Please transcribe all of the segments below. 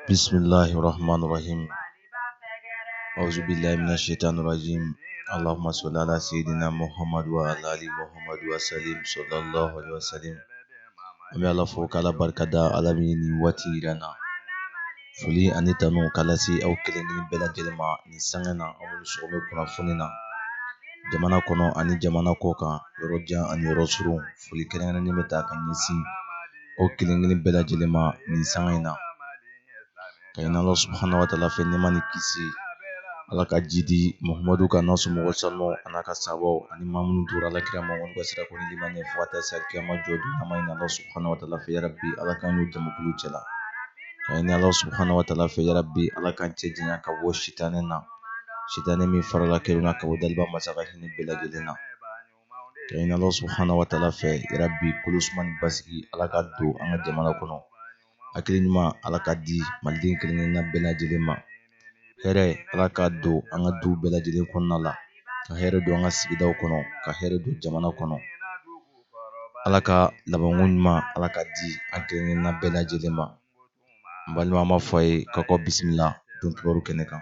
bisimilahi rahman rahim awzubila mina shaitan rajim allahumma salli ala sayyidina muhammadu wa ala ali muhammadu wa salim sallallahu alaihi wa salim an bɛ ala fo k'ala barika da ala min ye nin waati yira an na foli ani tanu k'a lase aw kelen kelen bɛɛ lajɛlen ma nin sanga na aw ni sɔgɔmɛ kunnafoni na jamana kɔnɔ ani jamana kɔkan yɔrɔ jan ani yɔrɔ surun foli kɛrɛnkɛrɛnnen bɛ taa ka ɲɛsin aw kelen kelen bɛɛ lajɛlen ma nin sanga in na k'a ɲini ala subahana wa taala fɛ nɛɛma ni kisi ala k'a jiidi mahamadu kan n'a somɔgɔ sanu an'a ka sahabaw ani maa minnu tugura ala kira ma ka sira kɔ ni limaniya fo ka taa se kiyama jɔ don na an b'a ɲini ala subahana wa taala fɛ yarabi ala k'an don o jamakulu cɛla k'a ɲini ala subahana wa taala fɛ yarabi ala k'an cɛ janya ka bɔ sitanɛ na sitanɛ min farala kelen na ka bɔ daliba masa ka hinɛ bɛɛ lajɛlen na k'a ɲini Allah subahana wa taala fɛ yarabi kolo suma ni basigi Allah k'a don an ka jamana kɔnɔ hakili ɲuman Allah k'a di maliden kelen kelen na bɛɛ lajɛlen ma hɛrɛ Allah k'a don an ka du bɛɛ lajɛlen kɔnɔna la ka hɛrɛ don an ka sigidaw kɔnɔ ka hɛrɛ don jamana kɔnɔ Allah ka labanko ɲuman Allah k'a di an kelen kelen na bɛɛ lajɛlen ma n balima an b'a fɔ aw ye k'a k'aw bisimila don kibaru kɛnɛ kan.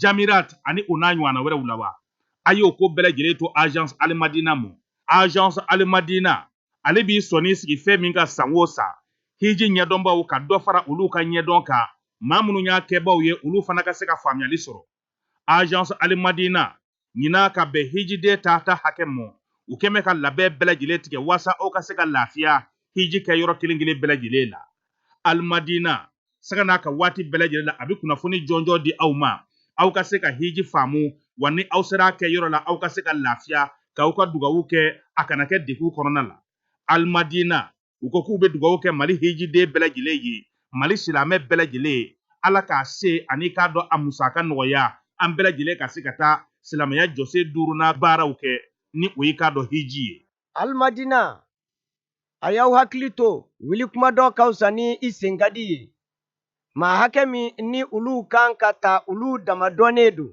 jamirat ani o n'a ɲɔgɔnna wɛrɛw la wa a y'o ko bɛɛ lajɛlen to agence alimadina mɔ agence alimadina ale b'i sɔnin sigi fɛn min kan san o san hiji ɲɛdɔnbaw ka dɔ fara olu ka ɲɛdɔn kan maa minnu y'a kɛbaw ye olu fana ka se ka faamuyali sɔrɔ agence alimadina ɲinan ka bɛn hijiden tata hakɛ mɔ u kɛn bɛ ka labɛn bɛɛ lajɛlen tigɛ waasa aw ka se ka lafiya hiji kɛ yɔrɔ kelen kelen bɛɛ lajɛlen la alimadina sanga n'a ka waati bɛɛ lajɛlen la a bɛ kunnafoni jɔnjɔn di aw ma aw ka se ka hiji faamu wa ni aw sera a kɛ yɔrɔ la aw ka se ka lafiya k'aw ka dugawu kɛ a kana kɛ degun kɔnɔna la alimadina u ko k'u bɛ dugawu kɛ mali hijiden bɛɛ lajɛlen ye mali silamɛ bɛɛ lajɛlen ala k'a se ani i k'a dɔn a musaka nɔgɔya an bɛɛ lajɛlen ka se ka taa silamɛya jɔsen duurunan baaraw kɛ ni o ye i k'a dɔn hiji ye alimadina a y'aw hakili to wuli kuma dɔn ka fisa ni i sen ka di ye maa hakɛ min ni olu ka kan k'a ta olu dama dɔnnen don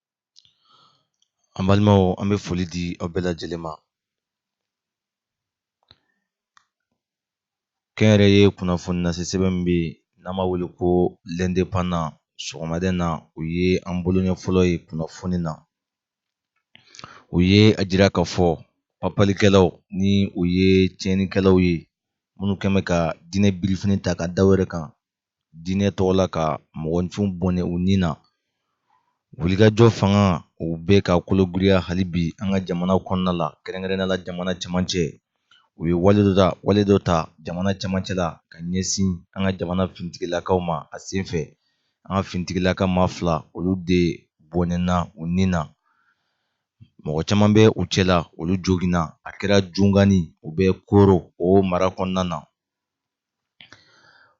An balimaw an bɛ foli di aw bɛɛ lajɛlen ma. Kɛnyɛrɛye kunnafoni lase sɛbɛn min bɛ yen n'an b'a wele ko l'indépendant sɔgɔmada in na u ye an boloɲɛ fɔlɔ ye kunnafoni na. U ye a jira k'a fɔ papalikɛlaw ni u ye tiɲɛnikɛlaw ye minnu kɛn bɛ ka diinɛ birifini ta ka da u yɛrɛ kan diinɛ tɔgɔ la ka mɔgɔninfin bɔnɛ u ni na wulikajɔ fanga u bɛ ka kologiriya hali bi an ka jamana kɔnɔna la kɛrɛnkɛrɛnnenya la jamana cɛmancɛ u ye wale dɔ ta jamana cɛmancɛ la ka ɲɛsin an ka jamana finitigilakaw ma a sen fɛ an ka finitigilaka maa fila olu de bɔnɛna u ni na mɔgɔ caman bɛ u cɛla olu joginna a kɛra jungani u bɛ koro o mara kɔnɔna na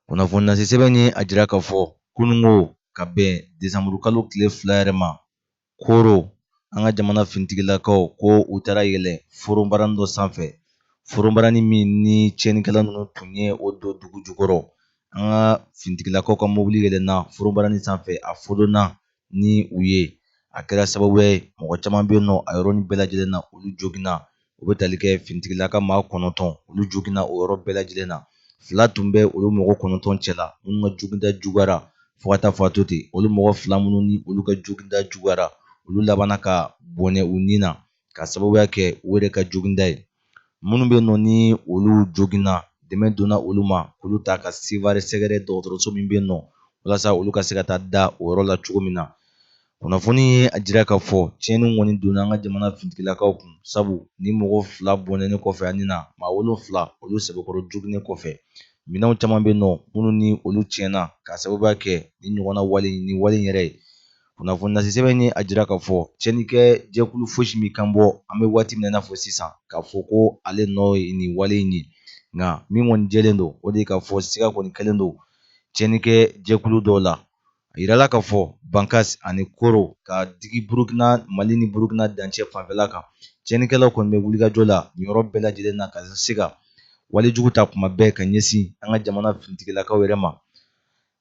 kunnafoni lase sɛbɛn ye a jira k'a fɔ kununko ka bɛn desanburu kalo tile fila yɛrɛ ma koro an ka jamana finitigilakaw ko u taara yɛlɛ foronbarani dɔ sanfɛ foronbarani min ni tiɲɛnikɛla ninnu tun ye o don dugu jukɔrɔ an ka finitigilakaw ka mobili yɛlɛnna foronbarani sanfɛ a fodonna ni u ye a kɛra sababu ye mɔgɔ caman bɛ yen nɔ a yɔrɔnin bɛɛ lajɛlen na olu joginna o bɛ tali kɛ finitigilaka maa kɔnɔntɔn olu joginna o yɔrɔ bɛɛ lajɛlen na fila tun bɛ olu mɔgɔ kɔnɔntɔn cɛla minnu ka joginda juguyara fo ka taa fɔ a to ten olu mɔgɔ fila minnu ni olu ka joginda juguyara olu labanna ka bɔnɛ u ni na ka sababuya kɛ u yɛrɛ ka joginda ye minnu bɛ nɔ ni olu joginna dɛmɛ donna olu ma k'olu ta ka seware sɛgɛrɛ dɔgɔtɔrɔso min bɛ nɔ walasa olu ka se ka taa da o yɔrɔ la cogo min na kunnafoni ye a jira k'a fɔ tiɲɛni kɔni donna an ka jamana finitigilakaw kun sabu ni mɔgɔ fila bɔnɛnen kɔfɛ u ni na maa wolonfila olu sɛbɛkɔrɔ joginnen kɔfɛ minɛnw caman bɛ nɔ minnu ni olu tiɲɛna k'a sababuya kɛ nin ɲɔgɔnna wale nin wale yɛrɛ ye kunnafoni lase sɛbɛn ye a jira k'a fɔ cɛnnikɛ jɛkulu fosi ma kan bɔ an bɛ waati min na i n'a fɔ sisan k'a fɔ ko ale nɔ ye nin wale in ye nka min kɔni jɛlen don o de ye k'a fɔ siga kɔni kɛlen don cɛnnikɛ jɛkulu dɔw la a yirala k'a fɔ bankasi ani koro ka digi burukina mali ni burukina dancɛ fanfɛla kan cɛnnikɛlaw kɔni bɛ wulikajɔ la nin yɔrɔ bɛɛ lajɛlen na ka se ka wale jugu ta kuma bɛɛ ka ɲɛsin an ka jamana finitigilakaw yɛrɛ ma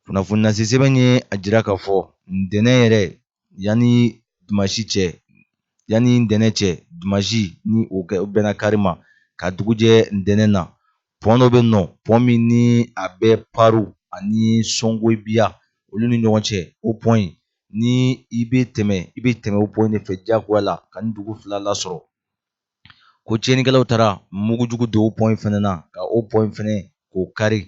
Kunnafoni lase sɛbɛn ye a jira k'a fɔ ntɛnɛn yɛrɛ yanni dimansi cɛ yanni ntɛnɛn cɛ dimansi ni o bɛnna kari ma ka dugu jɛ ntɛnɛn na pɔn dɔ bɛ nɔ pɔn min ni a bɛ paru ani songobiya olu ni ɲɔgɔn cɛ o pɔn in ni i bɛ tɛmɛ i bɛ tɛmɛ o pɔn in de fɛ diyagoya la ka nin dugu fila lasɔrɔ ko tiɲɛnikɛlaw taara mugujugu don o pɔn in fɛnɛ na ka o pɔn in fɛnɛ k'o kari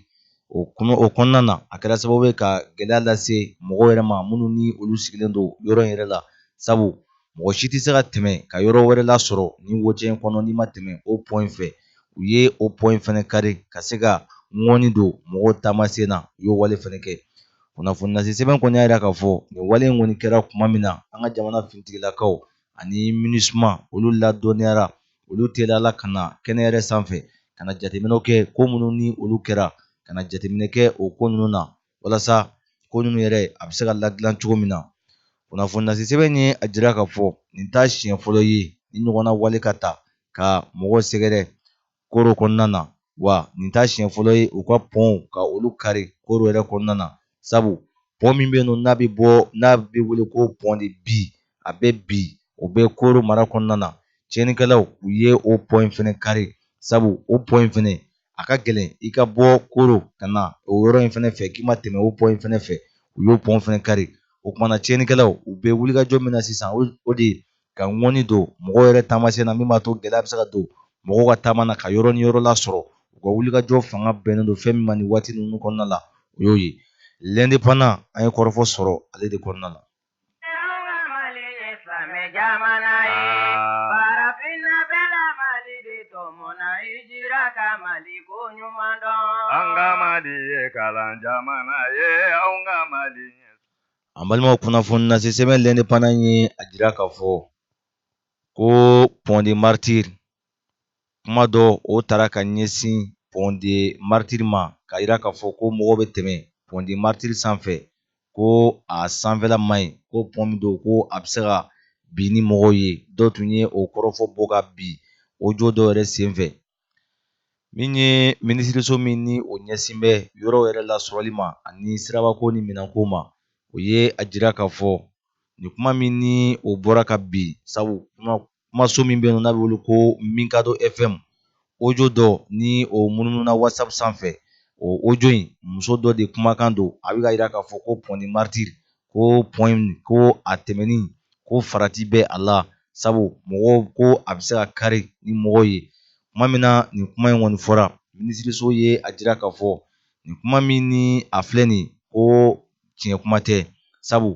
o kɔnɔ o kɔnɔna na a kɛra sababu ye ka gɛlɛya lase mɔgɔw yɛrɛ ma minnu ni olu sigilen don yɔrɔ in yɛrɛ la sabu mɔgɔ si tɛ se ka tɛmɛ ka yɔrɔ wɛrɛ lasɔrɔ ni wocɛ in kɔnɔ n'i ma tɛmɛ o pɔn in fɛ u ye o pɔn in fɛnɛ kari ka se ka ŋɔni don mɔgɔw taamasen na u y'o wale fɛnɛ kɛ kunnafoni lase sɛbɛn kɔni y'a jira k'a fɔ nin wale in kɔni kɛra kuma min na an ka jamana finitigilakaw ani minusma olu ladɔnniyara olu teliyala ka na kɛnɛ yɛrɛ sanfɛ ka na jateminɛw kɛ ko minnu ni olu kɛra ka na jateminɛ kɛ o ko ninnu na walasa ko ninnu yɛrɛ a bɛ se ka ladilan cogo min na kunnafoni lase sɛbɛn ye a jira k'a fɔ nin t'a siɲɛ fɔlɔ ye nin ɲɔgɔnna wale ka taa ka mɔgɔw sɛgɛrɛ koro kɔnɔna na wa nin t'a siɲɛ fɔlɔ ye u ka pɔnw ka olu kari koro yɛrɛ kɔnɔna na sabu pɔn min bɛ yen nɔ n'a bɛ wele ko pɔn de bi a bɛ bi o bɛ koro mara kɔnɔna na tiɲɛnikɛlaw u ye o pɔn in fana kari sabu o pɔn in fana a ka gɛlɛn i ka bɔ koro ka na o yɔrɔ in fana fɛ k'i ma tɛmɛ o pɔn in fana fɛ u y'o pɔn fana kari o kuma na tiɲɛnikɛlaw u bɛ wulikajɔ min na sisan o de ye ka ŋɔni don mɔgɔw yɛrɛ taamasen na min b'a to gɛlɛya bɛ se ka don mɔgɔw ka taama na ka yɔrɔ ni yɔrɔ lasɔrɔ u ka wulikajɔ fanga bɛnnen don fɛn min ma nin waati ninnu kɔnɔna la o y'o ye l'indépendant an ye kɔrɔfɔ sɔrɔ ale de kɔnɔna la jamana ye farafinna bɛla mali de tɔmɔna i jira ka mali ko ɲuman dɔn an ka mali ye kalan jamana ye an ka mali An balimaw kunnafoni lase sɛbɛn l'indépendant ye a jira k'a fɔ ko pont des martyrs kuma dɔ o taara ka ɲɛsin pont des martyrs ma k'a jira k'a fɔ ko mɔgɔw bɛ tɛmɛ pont des martyrs sanfɛ ko a sanfɛla man ɲi ko pɔn min don ko a bɛ se ka bin ni mɔgɔw ye dɔ tun ye o kɔrɔfɔ bɔ ka bin audio dɔ yɛrɛ senfɛ min ye minisiriso min ni o ɲɛsin bɛ yɔrɔ yɛrɛ lasɔrɔli ma ani sirabako ni minɛnko ma o ye a jira k'a fɔ nin kuma min ni o bɔra ka bin sabu kumaso min bɛ yen n'a bɛ wele ko mikado fm audio dɔ ni o munumununa whatsapp sanfɛ o audio in muso dɔ de kumakan don a bɛ k'a jira k'a fɔ ko pont des martyrs ko pɔn ko a tɛmɛni ko farati bɛ a la sabu mɔgɔw ko a bɛ se ka kari ni mɔgɔw ye kuma min na nin kuma in kɔni fɔra minisiriso ye a jira k'a fɔ nin kuma min ni a filɛ nin ko tiɲɛ kuma tɛ sabu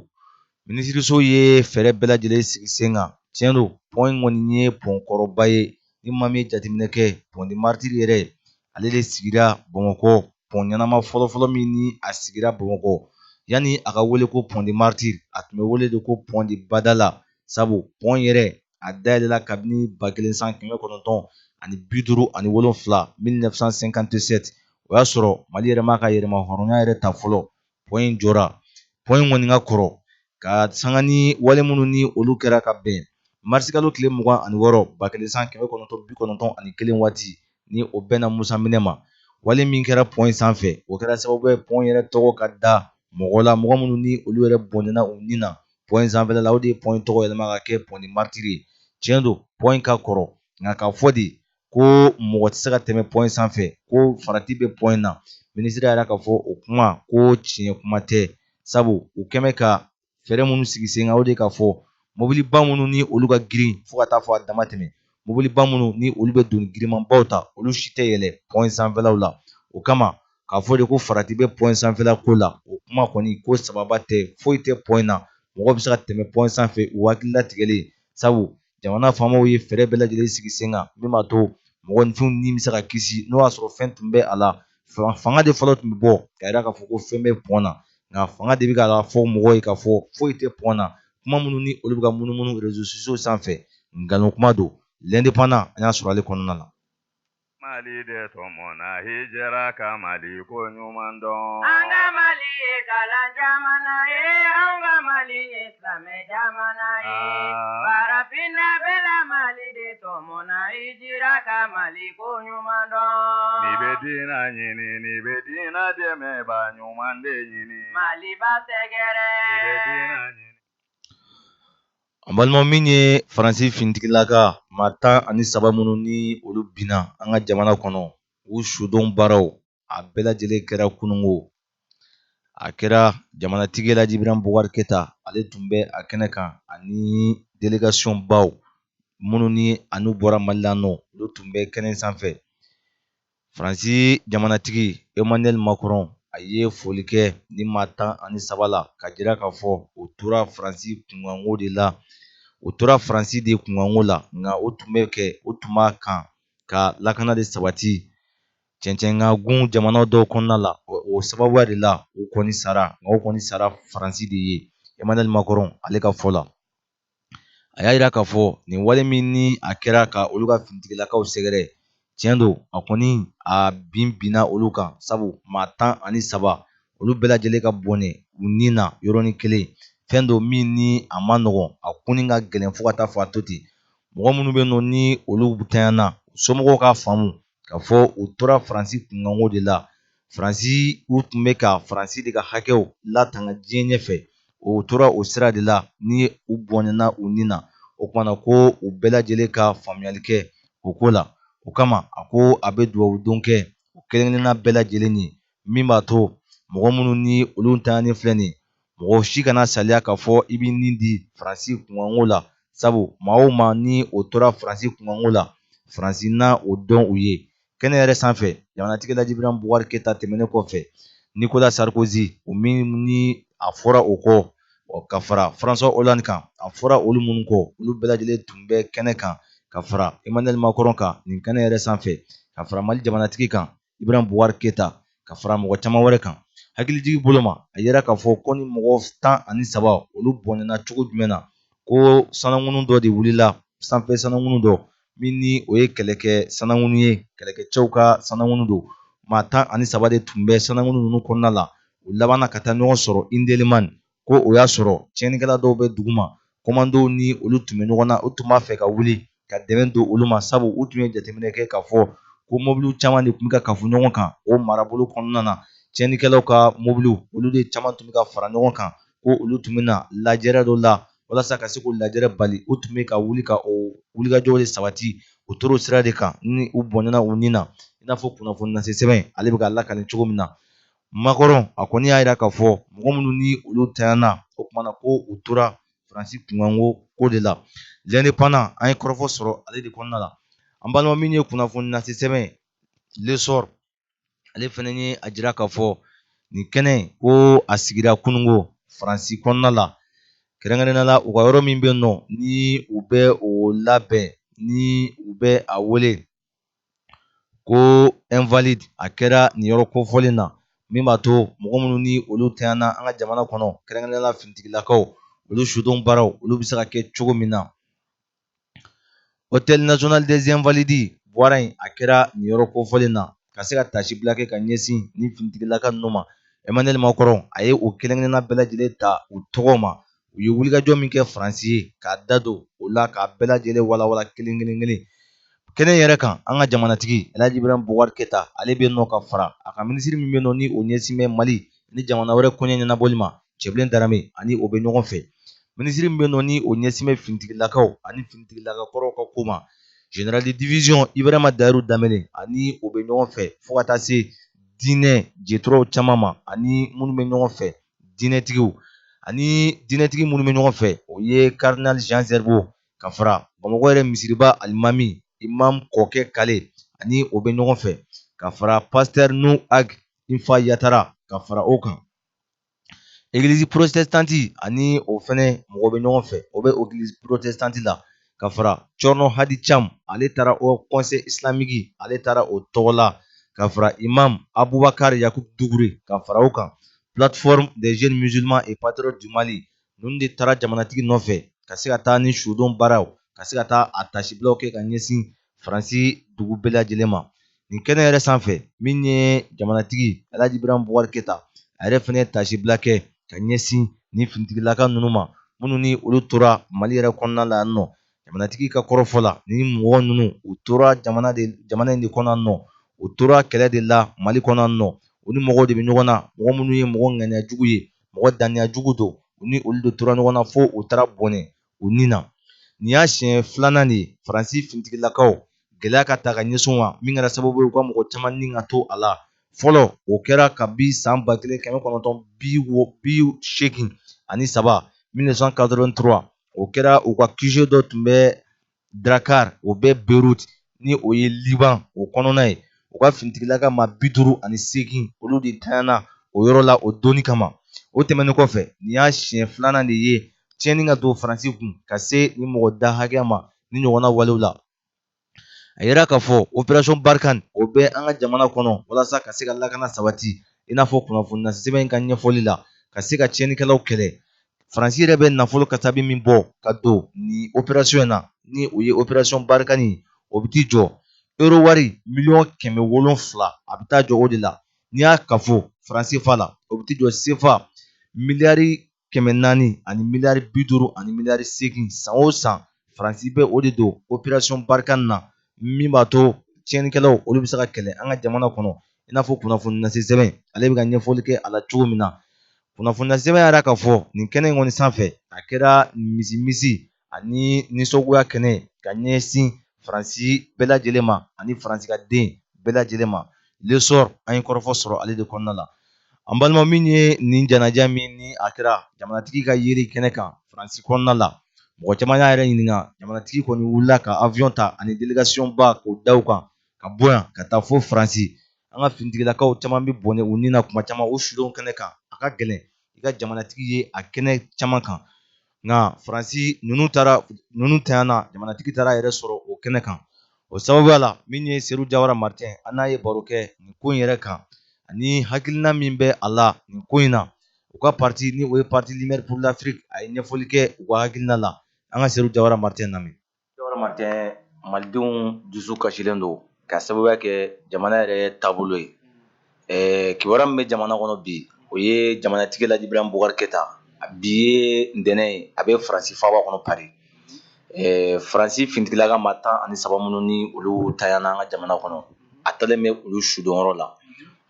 minisiriso ye fɛɛrɛ bɛɛ lajɛlen sigi sen kan tiɲɛ don pɔn in kɔni ye pɔn kɔrɔba ye ni maa min ye jateminɛ kɛ pont des martyrs yɛrɛ ale de sigira bamakɔ pɔn ɲɛnama fɔlɔfɔlɔ min ni a sigira bamakɔ yanni a ka wele ko pont des martyrs a tun bɛ wele de ko pont de badala sabu pɔn yɛrɛ a dayɛlɛla kabini ba kelen san kɛmɛ kɔnɔntɔn ani bi duuru ani wolonfila 1957 o y'a sɔrɔ mali yɛrɛ m'a ka yɛrɛma hɔrɔnya yɛrɛ ta fɔlɔ pɔn in jɔra pɔn in kɔni ka kɔrɔ ka sanga ni wale minnu ni olu kɛra ka bɛn marisikalo tile mugan ani wɔɔrɔ ba kelen san kɛmɛ kɔnɔntɔn bi kɔnɔntɔn ani kelen waati ni o bɛnna musa minɛ ma wale min kɛra pɔn in sanfɛ o kɛra sababu ye pɔn yɛrɛ tɔgɔ ka da mɔgɔ la mɔgɔ minnu ni olu yɛrɛ bɔnɛna u ni na pɔn in sanfɛla la o de ye pɔn in tɔgɔ yɛlɛma ka kɛ pɔn de maritiri ye tiɲɛ don pɔn in ka kɔrɔ nka k'a fɔ de ko mɔgɔ tɛ se ka tɛmɛ pɔn in sanfɛ ko farati bɛ pɔn in na minisiri yɛrɛ k'a fɔ o kuma ko tiɲɛ kuma tɛ sabu u kɛmɛ ka fɛɛrɛ minnu sigi sen kan o de k'a fɔ mɔbiliba minnu ni olu ka girin fo ka taa fo a dama tɛmɛ mɔbiliba minnu ni olu bɛ doni girimanbaw ta olu si tɛ yɛlɛ pɔn in sanfɛlaw la o kama k'a fɔ de ko farati bɛ pɔn in sanfɛla ko la o kuma kɔni ko sababa tɛ foyi tɛ pɔn in na mɔgɔ bɛ se ka tɛmɛ pɔn in sanfɛ u hakili latigɛlen sabu jamana faamaw ye fɛɛrɛ bɛɛ lajɛlen sigi sen kan min b'a to mɔgɔninfinw ni bɛ se ka kisi n'o y'a sɔrɔ fɛn tun bɛ a la fanga de fɔlɔ tun bɛ bɔ k'a yira k'a fɔ ko fɛn bɛ pɔn na nka fanga de bɛ k'a fɔ mɔgɔw ye k'a fɔ foyi tɛ pɔn na kuma minnu ni olu bɛ ka munumunu rezo sosiyo sanfɛ nkalon kuma don l'indépendant an y'a sɔrɔ ale kɔnɔna na Mali de tɔmɔna hijira ka Mali ko ɲuman dɔn. An ka Mali ye kalan jamana ye, an ka Mali ye silamɛ jamana ye. Aa! Farafinna bɛɛ la Mali de tɔmɔna hijira ka Mali ko ɲuman dɔn. N'i bɛ diina ɲini, n'i bɛ diina dɛmɛbaa ɲuman de ɲini. Maliba sɛgɛrɛ. N'i bɛ diina ɲini. An balima min ye faransi finitigilaka maa tan ani saba minnu ni olu binna an ka jamana kɔnɔ u sudon baaraw a bɛɛ lajɛlen kɛra kunungo a kɛra jamanatigi laji ibrahim bubakari keta ale tun bɛ a kɛnɛ kan ani delegasiyɔn baw minnu ni anu bɔra mali la nɔ olu tun bɛ kɛnɛ sanfɛ faransi jamanatigi emmanuel macron a ye foli kɛ nin maa tan ani saba la k'a jira k'a fɔ o tora faransi kunkanko de la o tora faransi de kunkanko la nka o tun bɛ kɛ o tun b'a kan ka lakana de sabati cɛncɛnkagun jamana dɔw kɔnɔna la o sababuya de la o kɔni sara nka o kɔni sara faransi de ye emmanuel macron ale ka fɔ la a y'a yira k'a fɔ nin wale min ni a kɛra ka olu ka finitigilakaw sɛgɛrɛ tiɲɛ don a kɔni a bin binna olu kan sabu maa tan ani saba olu bɛɛ lajɛlen ka bɔnɛ u ni na yɔrɔnin kelen fɛn don min ni a man nɔgɔn a kunni ka gɛlɛn fo ka taa fo a to ten mɔgɔ minnu bɛ nɔ ni olu tanyana somɔgɔw k'a faamu k'a fɔ u tora faransi kunkanko de la faransi u tun bɛ ka faransi de ka hakɛw latanga diɲɛ ɲɛfɛ o tora o sira de la ni u bɔnɛna u ni na o kuma na ko u bɛɛ lajɛlen ka faamuyali kɛ o ko la o kama a ko a bɛ dugawudon kɛ u kelen-kelenna bɛɛ lajɛlen ye min b'a to mɔgɔ minnu ni olu ntanyanen filɛ nin mɔgɔ si kana saliya k'a fɔ i bɛ nin di faransi kunkanko la sabu maa o maa ni o tora faransi kunkanko la faransi na o dɔn u ye kɛnɛ yɛrɛ sanfɛ jamanatigi laji ibrahim bubakari keta tɛmɛnen kɔfɛ nicolas sarkozy o min ni a fɔra o kɔ ka fara françois hollande kan a fɔra olu minnu kɔ olu bɛɛ lajɛlen tun bɛ kɛnɛ kan ka fara emmanuel macron kan nin kɛnɛ yɛrɛ sanfɛ ka fara mali jamanatigi kan ibrahim bubakari keta ka fara mɔgɔ caman wɛrɛ kan hakilijigi bolo ma a yira k'a fɔ ko nin mɔgɔ tan ani saba olu bɔnɛna cogo jumɛn na ko sanankunnu dɔ de wulila sanfɛ sanankunnu dɔ min ni o ye kɛlɛkɛ sanankunnu ye kɛlɛkɛcɛw ka sanankunnu don maa tan ani saba de tun bɛ sanankunnu ninnu kɔnɔna la u labanna ka taa ɲɔgɔn sɔrɔ indelimani ko o y'a sɔrɔ tiɲɛnikɛla dɔw bɛ duguma kɔmandow ni olu tun bɛ ɲɔgɔn na u tun b'a fɛ ka wuli ka dɛmɛ don olu ma sabu u tun ye jateminɛ kɛ k'a fɔ ko mobiliw caman de tun bɛ ka kafu ɲɔgɔn kan o marabolo kɔnɔna na tiɲɛnikɛlaw ka mobiliw olu de caman tun bɛ ka fara ɲɔgɔn kan ko olu tun bɛ na lajɛrɛ dɔ la walasa ka se k'o lajɛrɛ bali u tun bɛ ka wuli ka o wulikajɔw de sabati u tora o sira de kan ni u bɔnɛna u ni na i n'a fɔ kunnafoni lase sɛbɛn ale bɛ k'a lakali cogo min na Macron a kɔni y'a jira k'a fɔ mɔgɔ minnu ni olu tanyana o kuma na ko u tora faransi kunkanko ko de la l'indépendant an ye kɔrɔfɔ sɔrɔ ale de kɔnɔna la an balima min ye kunnafoni lase sɛbɛn l'essor ale fana ye a jira k'a fɔ nin kɛnɛ ko a sigira kununko faransi kɔnɔna la kɛrɛnkɛrɛnnenya la u ka yɔrɔ min bɛ nɔ ni u bɛ o labɛn ni u bɛ a wele ko invalides a kɛra nin yɔrɔ kofɔlen na min b'a to mɔgɔ minnu ni olu tanyana an ka jamana kɔnɔ kɛrɛnkɛrɛnnenya la finitigilakaw olu sudon baaraw olu bɛ se ka kɛ cogo min na hôtel national des invalides bɔra yen a kɛra nin yɔrɔ kofɔlen na ka se ka taasibila kɛ ka ɲɛsin nin finitigilaka ninnu ma Emmanuel Macron a ye o kelen-kelenna bɛɛ lajɛlen ta u tɔgɔ ma u ye wulikajɔ min kɛ faransi ye k'a da don o la k'a bɛɛ lajɛlen walawala kelen kelen kelen kɛnɛ yɛrɛ kan an ka jamanatigi alhaji ibrahim bubakari keta ale bɛ nɔ ka fara a ka minisiri min bɛ nɔ ni o ɲɛsin bɛ mali ni jamana wɛrɛ koɲɛ ɲɛnabɔli ma cɛbilen darame ani o bɛ ɲɔgɔn fɛ minisiri min bɛ nɔ ni o ɲɛsin bɛ finitigilakaw ani finitigilakakɔrɔw ka ko ma general de division ibrahima dayiru danbele ani o bɛ ɲɔgɔn fɛ fo ka taa se diinɛ jeturaw caman ma ani minnu bɛ ɲɔgɔn fɛ diinɛtigiw ani diinɛtigi minnu bɛ ɲɔgɔn fɛ o ye cardinal jean zerbo ka fara bamakɔ yɛrɛ misiriba alimami imam kɔkɛ kale ani o bɛ ɲɔgɔn fɛ ka fara pasteur nu ag infa yatara ka fara o kan egilizi protestante ani o fɛnɛ mɔgɔ bɛ ɲɔgɔn fɛ o bɛ egilizi protestante la ka fara cɔrɔnɔ hadi cam ale taara haut conseil islamique ale taara o tɔgɔ la ka fara imam abubakar yakub dugure ka fara o kan plateforme des jeunes musulmans et patriotes du mali ninnu de taara jamanatigi nɔfɛ ka se ka taa ni sudon baaraw ka se ka taa a tasibilaw kɛ ka ɲɛsin faransi dugu bɛɛ lajɛlen ma nin kɛnɛ yɛrɛ sanfɛ min ye jamanatigi alhaji ibrahim bubakar keita a yɛrɛ fɛnɛ ye tasibila kɛ ka ɲɛsin ni finitigilaka ninnu ma minnu ni olu tora mali yɛrɛ kɔnɔna la yan nɔ jamanatigi ka kɔrɔfɔ la ni mɔgɔ ninnu u tora jamana de jamana in de kɔnɔ nɔ u tora kɛlɛ de la mali kɔnɔ nɔ u ni mɔgɔw de bɛ ɲɔgɔn na mɔgɔ minnu ye mɔgɔ ŋaniya jugu ye mɔgɔ daniya jugu don u ni olu de tora ɲɔgɔn na fo u taara bɔnɛ u ni na nin y'a siɲɛ filanan de ye faransi finitigilakaw gɛlɛya ka ta ka ɲɛsin u ma min kɛra sababu ye u ka mɔgɔ caman ni ka to a la fɔlɔ o kɛra kabi san ba kelen kɛmɛ kɔnɔntɔn bi wo bi seegin ani saba 1983 o kɛra u ka QG dɔ tun bɛ Drakkar o bɛ Beirut ni o ye Liban o kɔnɔna ye u ka finitigilaka maa bi duuru ani seegin olu de tanyana o yɔrɔ la o doni kama o tɛmɛnen kɔfɛ nin y'a siɲɛ filanan de ye tiɲɛni ka don Faransi kun ka se nin mɔgɔ da hakɛya ma ni ɲɔgɔnna walew la a yera k'a fɔ opération Barkhane o bɛ an ka jamana kɔnɔ walasa ka se ka lakana sabati i n'a fɔ kunnafoni lase sɛbɛn in ka ɲɛfɔli la ka se ka tiɲɛnikɛlaw kɛlɛ faransi yɛrɛ bɛ nafolo kasabi min bɔ ka don nin opération in na ni o ye opération barkhane ye o bɛ t'i jɔ euro wari miliyɔn kɛmɛ wolonfila a bɛ taa jɔ o de la n'i y'a kafo faran sefa la o bɛ t'i jɔ sefa miliyari kɛmɛ naani ani miliyari bi duuru ani miliyari seegin san o san faransi bɛ o de don opération barkhane na min b'a to tiɲɛnikɛlaw olu bɛ se ka kɛlɛ an ka jamana kɔnɔ i n'a fɔ kunnafoni lase sɛbɛn ale bɛ ka ɲɛfɔli kɛ a la cogo min na kunnafoni lase sɛbɛn yɛrɛ ka fɔ nin kɛnɛ in kɔni sanfɛ a kɛra nimisi ani nisɔngoya kɛnɛ ka ɲɛsin faransi bɛɛ lajɛlen ma ani faransi ka den bɛɛ lajɛlen ma l'essor an ye kɔrɔfɔ sɔrɔ ale de kɔnɔna la an balima min ye nin janaja min ni a kɛra jamanatigi ka yeli kɛnɛ kan faransi kɔnɔna la mɔgɔ caman y'a yɛrɛ ɲininka jamanatigi kɔni wulila ka avion ta ani délégation ba k'o da u kan ka bɔ yan ka taa fo faransi an ka finitigilakaw caman bɛ bɔnɛ u ni na kuma caman u sudon kɛnɛ kan a ka gɛlɛn i ka jamanatigi ye a kɛnɛ caman kan nka faransi ninnu taara ninnu tanyana jamanatigi taara a yɛrɛ sɔrɔ o kɛnɛ kan o sababuya la min ye seru jawara martin an n'a ye baro kɛ nin ko in yɛrɛ kan ani hakilina min bɛ a la nin ko in na u ka parti ni o ye parti lumière pour l'afrique a ye ɲɛfɔli kɛ u ka hakilina la an ka seru jawara martin lamɛn Jawara martin malidenw dusu kasilen don ka sababuya kɛ jamana yɛrɛ taabolo ye kibaru min bɛ jamana kɔnɔ bi o ye jamanatigi laji ibrahim boubacar keita bi ye ntɛnɛn ye a bɛ faransi faaba kɔnɔ pari faransi finitigilaka maa tan ani saba minnu ni olu tanyana an ka jamana kɔnɔ a taalen bɛ olu sudonyɔrɔ la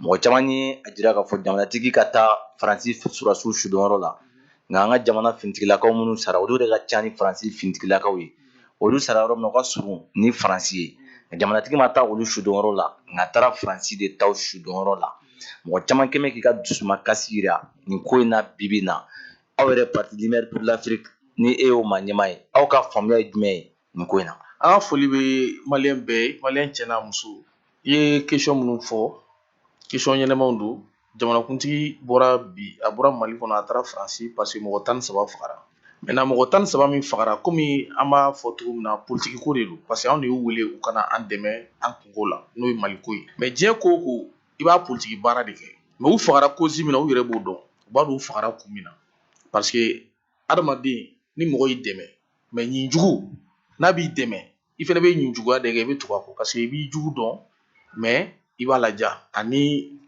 mɔgɔ caman ye a jira k'a fɔ jamanatigi ka taa faransi sɔrɔdasiw sudonyɔrɔ la nka an ka jamana finitigilakaw minnu sara olu de ka ca ni faransi finitigilakaw ye olu sara yɔrɔ min na o ka surun ni faransi ye jamanatigi ma taa olu sudonyɔrɔ la nka a taara faransi de taw sudonyɔrɔ la mɔgɔ caman kɛmɛ k'i ka dusumakasi jira nin ko in na bibi na aw yɛrɛ parti lumière pour l'afrique ni e y'o maa ɲɛmaa ye aw ka faamuya ye jumɛn ye nin ko in na an ka foli bɛ maliyɛn bɛɛ ye maliyɛn cɛ n'a muso i ye kesɔn minnu fɔ kesɔn ɲɛnamaw don jamanakuntigi bɔra bi a bɔra mali kɔnɔ a taara faransi paseke mɔgɔ tan ni saba fagara mɛtɛnan mɔgɔ tan ni saba min fagara kɔmi an b'a fɔ cogo min na politiki ko de don paseke anw de y'u wele u ka na an dɛmɛ an kunko la n'o ye mali ko ye mɛ diɲɛ ko o ko i b'a politiki baara de kɛ mɛ u fagara kozi min na u yɛrɛ b'o dɔn u b'a dɔn u fagara kun min na paseke adamaden ni mɔgɔ y'i dɛmɛ mɛ ɲin jugu n'a b'i dɛmɛ i fana bɛ ɲin juguya de kɛ i bɛ tugu a kɔ paseke i b'i jugu dɔn mɛ i b'a laja ani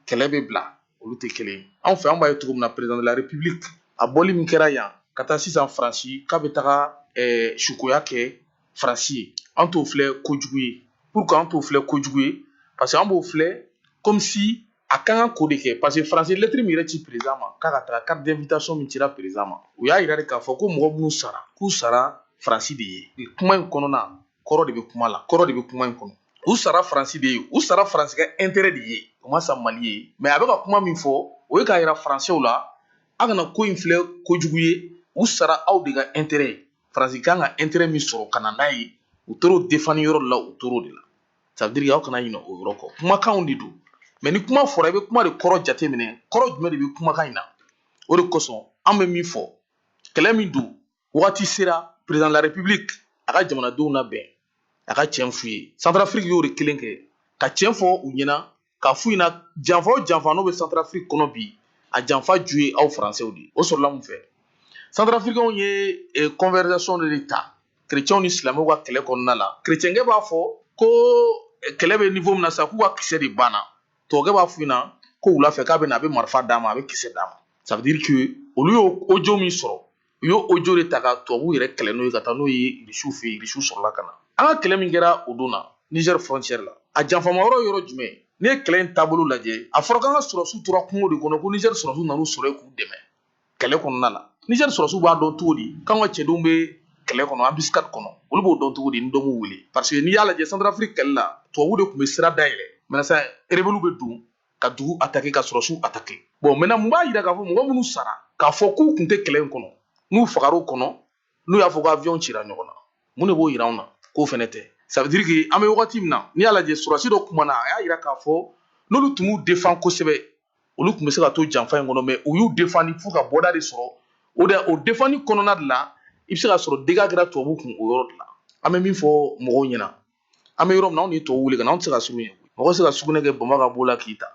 kɛlɛ bɛ bila olu tɛ kelen anw fɛ an b'a ye cogo min na président de la république a bɔli min kɛra yan ka taa sisan faransi k'a bɛ taga eh, sukoya kɛ faransi ye an t'o filɛ kojugu ye pourquoi an t'o filɛ kojugu ye parce que an b'o filɛ comme si a kan ka ko de kɛ parce que faransi lettre min yɛrɛ ci président ma k'a ka taga carte d'invitation min cira président ma u y'a yira de k'a fɔ ko mɔgɔ minnu sara k'u sara faransi de ye nin kuma in kɔnɔna kɔrɔ de bɛ kuma la kɔrɔ de bɛ kuma in kɔnɔ u sara faransi de ye u sara faransi ka intérêt de ye u ma sa mali ye mais a bɛ ka kuma min fɔ o ye k'a yira faransɛw la a kana ko in filɛ kojugu ye u sara aw de ka intérêt ye faransi kan ka intérêt min sɔrɔ ka na n'a ye u tor'o défendre yɔrɔ de la u tor'o de la ça veut dire aw kana ɲinɛ o yɔrɔ kɔ kumakanw de don mɛ ni kuma fɔra i bɛ kuma de kɔrɔ jateminɛ kɔrɔ jumɛn de bɛ kumakan in na o de kosɔn an bɛ min fɔ kɛlɛ min don wagati sera président de la république a ka jamanadenw labɛn a ka tiɲɛ f'u ye santarafiriki y'o de kelen kɛ ka tiɲɛ fɔ u ɲɛna k'a f'u ɲɛna janfa o janfa n'o bɛ santarafiriki kɔnɔ bi a janfa ju ye aw faransɛw de ye o sɔrɔla mun fɛ santarafirikanw ye conversation eh, de ta kerecɛnw ni silamɛw ka kɛlɛ kɔnɔna la kerecɛnkɛ b'a fɔ ko eh, kɛlɛ bɛ niveau min na sa k'u ka kisɛ de banna tubabukɛ b'a f'u ɲɛna ko wula fɛ k'a bɛ na a bɛ marifa d'a ma a bɛ kisɛ d'a ma ça veut dire que olu y'o audio min sɔrɔ u y'o audio de ta ka tubabuw yɛrɛ kɛlɛ n'o ye ka taa n'o ye irisiw fɛ yen irisiw sɔrɔla ka na an ka kɛlɛ min kɛra o don na nizɛri fɔrɔncɛri la a janfama yɔrɔ yɔrɔ jumɛn n'i ye kɛlɛ in taabolo lajɛ a fɔra k'an ka sɔrɔsiw tora kungo de kɔnɔ ko nizɛri sɔrɔsiw nan'u sɔrɔ yen k'u dɛmɛ kɛlɛ kɔnɔna na nizɛri sɔrɔsiw b'a dɔn cogo di k'an ka cɛdenw bɛ kɛlɛ kɔnɔ embuscade kɔnɔ olu b'o dɔn cogo di ni dɔ m'u wele parce que n'i y'a lajɛ santarafiriki kɛlɛ la tubabu de tun bɛ sira dayɛlɛ maintenant sa rebelles bɛ don ka dugu atake ka sɔrɔsiw atake bon maintenant mun b'a yira k'a fɔ mɔgɔ minnu sara k'a fɔ k'u kun tɛ kɛlɛ in kɔnɔ n'u fagara o kɔnɔ n'u y'a fɔ ko aviyɔn cira ɲɔgɔn na mun de b'o yira anw na k'o fɛnɛ tɛ ça veut dire que an bɛ wagati min na n'i y'a lajɛ sɔrɔsi dɔ kumana a y'a yira k'a fɔ n'olu tun m'u defan kosɛbɛ olu tun bɛ se ka to janfa in kɔnɔ mais u y'u defandi f'u ka bɔda de sɔrɔ o de o defandi kɔnɔna de la i bɛ se ka sɔrɔ dégâts kɛra tubabu kun o yɔrɔ de la an bɛ min fɔ mɔgɔw ɲɛna an bɛ yɔrɔ min na anw de ye tubabuw wele ka na anw tɛ se ka sugunɛ kɛ mɔgɔ tɛ se ka sugunɛ kɛ bama ka b'o la k'i ta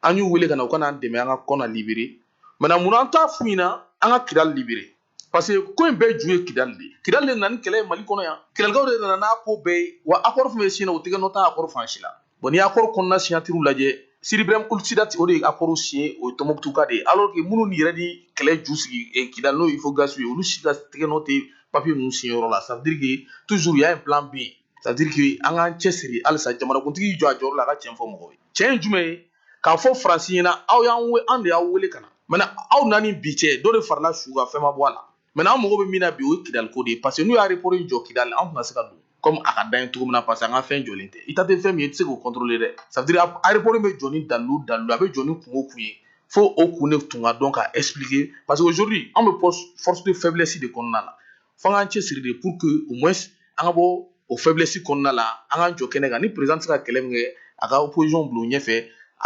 an y'u wele ka na u ka n'an dɛmɛ an ka kɔna libere mais munna an t'a f'u ɲɛna an ka kidali libere parce que ko in bɛɛ ju ye kidali de ye kidali de nana ni kɛlɛ ye mali kɔnɔ yan kidalikaw de nana n'a ko bɛɛ ye wa akɔri fɛn fɛn siɲɛna u tɛgɛ nɔ t'a akɔri fan si la bon n'i ye akɔri kɔnɔna signature lajɛ sidi brahim ould sidati o de ye akɔri siɲɛ o ye tɔnbukutuka de ye alors que minnu yɛrɛ ni kɛlɛ ju sigi eh, kidali n'o ye ifogasi ye olu si ka tɛgɛ nɔ tɛ papier ninnu signé yɔrɔ la ça veut dire que toujours il y a un plan B ça veut dire que an k'an cɛsiri halisa jamanakuntigi jɔ a jɔyɔrɔ la a ka tiɲɛ fɔ mɔgɔw ye tiɲɛ ye jumɛn ye k'a fɔ faransi ɲɛna aw y'an we an de y'aw wele ka na maintenant aw na ni bi cɛ dɔ de farala su kan fɛn ma bɔ a la maintenant an mago bɛ min na bi o ye kidaliko de ye parce que n'u y'aéroport in jɔ kidali an tɛna se ka don kɔmi a ka d'an ye cogo min na parce que an ka fɛn jɔlen tɛ i ta tɛ fɛn min ye i tɛ se k'o kɔntorole dɛ c'est-à-dire aéroport bɛ jɔ ni dalilu o dalilu a bɛ jɔ ni kun o kun ye fo o kun de tun ka dɔn ka ɛsipilike parce que aujourd'hui an bɛ force de faiblesse de kɔnɔna la fo an k'an cɛsiri de pour que au moins an ka bɔ o faiblesse kɔnɔna la an k'an jɔ kɛnɛ kan ni perezidan tɛ se ka kɛlɛ min kɛ a ka opozisɔn bila o ɲɛfɛ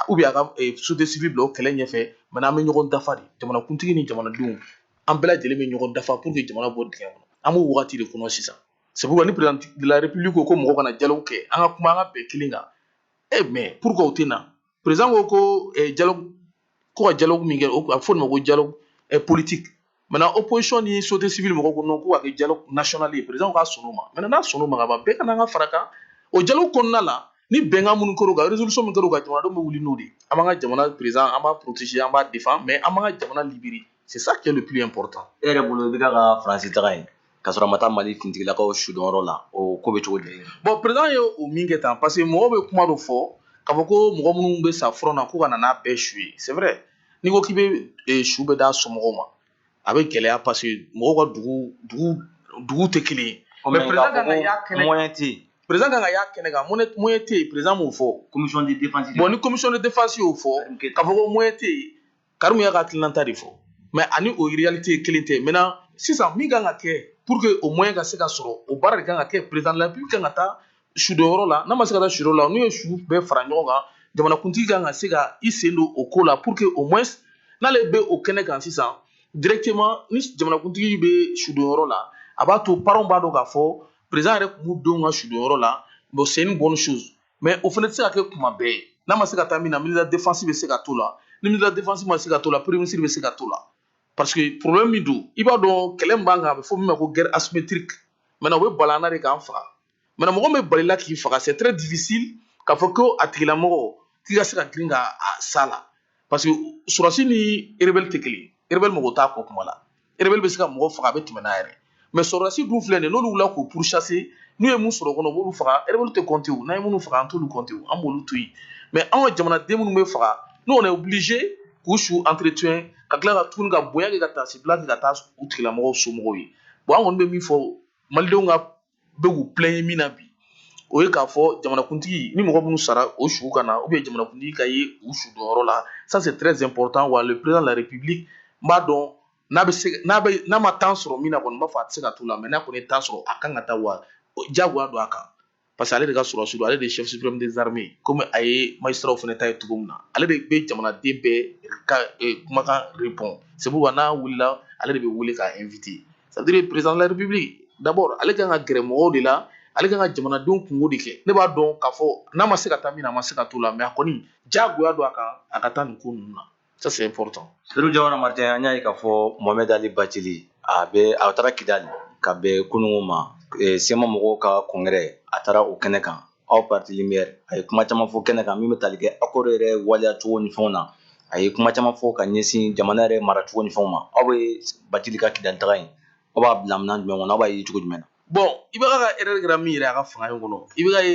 ou bien a ka eh, société civile bila o kɛlɛ ɲɛfɛ mais an bɛ ɲɔgɔn dafa de jamanakuntigi ni jamanadenw an bɛɛ lajɛlen bɛ ɲɔgɔn dafa pour que jamana bɔ dingɛ kɔnɔ an b'o wagati de kɔnɔ sisan sabu ni president de la république ko ko mɔgɔw ka na dialogue kɛ an ka kuma an ka bɛn kelen kan e mais pourquoi o tɛ na president ko ko dialogue ko ka dialogue min kɛ a bɛ fɔ o ma ko dialogue politique maintenant opposition ni société civile mɔgɔw ko non k'o ka kɛ dialogue national ye president ka sɔn o ma maintenant n'a sɔn o ma ka ban bɛɛ ka na an ka fara kan o dialogue kɔnɔna la ni bɛnkan minnu kɛra o kan résolution min kɛra o kan jamanadenw bɛ wuli n'o de ye an b'an ka jamana president an b'a protéger an b'a défend mais an b'an ka jamana libérer c'est ça qui est le plus important e yɛrɛ bolo i bɛ ka ka faransi taga ye k'a sɔrɔ a ma taa mali finitigilakaw sudonyɔrɔ la o ko bɛ cogo di bon président ye o min kɛ tan parce que mɔgɔw bɛ kuma dɔ fɔ k'a fɔ ko mɔgɔ minnu bɛ sa front na ko ka na n'a bɛɛ su ye c'est vrai n'i ko k'i bɛ eh, su bɛɛ d'a somɔgɔw ma a bɛ gɛlɛya parce que mɔgɔw ka dugu dugu dugu tɛ kelen ye mais président kan ka y'a kɛnɛ moyen tɛ yen président kan ka y'a kɛnɛ kan moyen moyen tɛ yen président m'o fɔ commission de défense bon ni commission de défense y'o fɔ k'a fɔ ko moyen tɛ yen karimu y'a ka hakilinata de fɔ mais ani o réalité kelen tɛ maintenant sisan min kan ka kɛ pour que o moyen ka se ka sɔrɔ o baara de kan ka kɛ président de la république kan ka taa sudonyɔrɔ la n'a ma se ka taa sudon la n'u ye su bɛɛ fara ɲɔgɔn kan jamanakuntigi kan ka se ka i sen don o ko la pour que au moins n'ale bɛ o kɛnɛ kan sisan directement ni jamanakuntigi bɛ sudonyɔrɔ la a b'a to parents b'a dɔn k'a fɔ président yɛrɛ tun b'u denw ka sudonyɔrɔ la bon c'est une bonne chose mais o fana tɛ se ka kɛ kuma bɛɛ ye n'a ma se ka taa min na ministre de la défense bɛ se ka t'o la ni ministre de la défense ma se ka t'o la premier ministre bɛ se ka t'o la parce que problème min don i b'a dɔn kɛlɛ min b'an kan a bɛ fɔ min ma ko guerre asymétrique maintenant o bɛ bala an na de k'an faga maintenant mɔgɔ min bɛ bal'i la k'i faga c'est très difficile k'a fɔ ko a tigilamɔgɔ k'i ka se ka girin ka s'a la parce que sɔrɔsi ni rebelle tɛ kelen rebelle mɔgɔ t'a kɔ kuma la rebelle bɛ se ka mɔgɔ faga a bɛ tɛmɛ n'a yɛrɛ mais sɔrɔdasi dun filɛ nin n'olu wulila k'u pourchasser n'u ye min sɔrɔ o kɔnɔ u b'olu faga rebelle tɛ compter o n'an ye minnu faga an t'olu compter o an b'olu to yen mais an ka jamanaden minnu bɛ faga nous on est obligé k'u su entretien ka tila ka tuguni ka bonya kɛ ka taasibila kɛ ka taa u tigilamɔgɔw somɔgɔw ye bon an kɔni bɛ min fɔ malidenw ka bɛ k'u plaindre min na bi o ye k'a fɔ jamanakuntigi ni mɔgɔ minnu sara u su ka na ou bien jamanakuntigi ka ye u sudonyɔrɔ la ça c'est très important wa le président de la république n b'a dɔn n'a bɛ se n'a bɛ n'a ma temps sɔrɔ min na kɔni n b'a fɔ a tɛ se ka t'o la mais n'a kɔni ye temps sɔrɔ a kan ka taa wa diyagoya don a kan parce que ale de ka sɔrɔsi don ale de ye chef suprême des armées comme a ye magistrats fana ta ye cogo min na ale de bɛ jamanaden bɛɛ ka kumakan répond c'est pourquoi n'a wulila ale de bɛ wele k'a invité ça veut dire président de la république d'abord ale kan ka gɛrɛ mɔgɔw de la ale kan ka jamanadenw kunko de kɛ ne b'a dɔn k'a fɔ n'a ma se ka taa min na a ma se ka t'o la mais a kɔni jagoya don a kan a ka taa nin ko ninnu na ça c'est important seydou diawara martin an y'a ye k'a fɔ mohamed ali bathily a bɛ a taara kidali ka bɛn kunungo ma eh, CMA mɔgɔw ka congrès a taara o kɛnɛ kan aw parti lumière a ye kuma caman fɔ kɛnɛ kan min bɛ tali kɛ accord yɛrɛ waleya cogo ni fɛnw na a ye kuma caman fɔ ka ɲɛsin jamana yɛrɛ mara cogo ni fɛnw ma aw bɛ bathily ka kidali taga in aw b'a bila minɛn jumɛn kɔnɔ aw b'a ye cogo jumɛn na bon IBK ka erreur kɛra min yɛrɛ a ka fanga in kɔnɔ IBK ye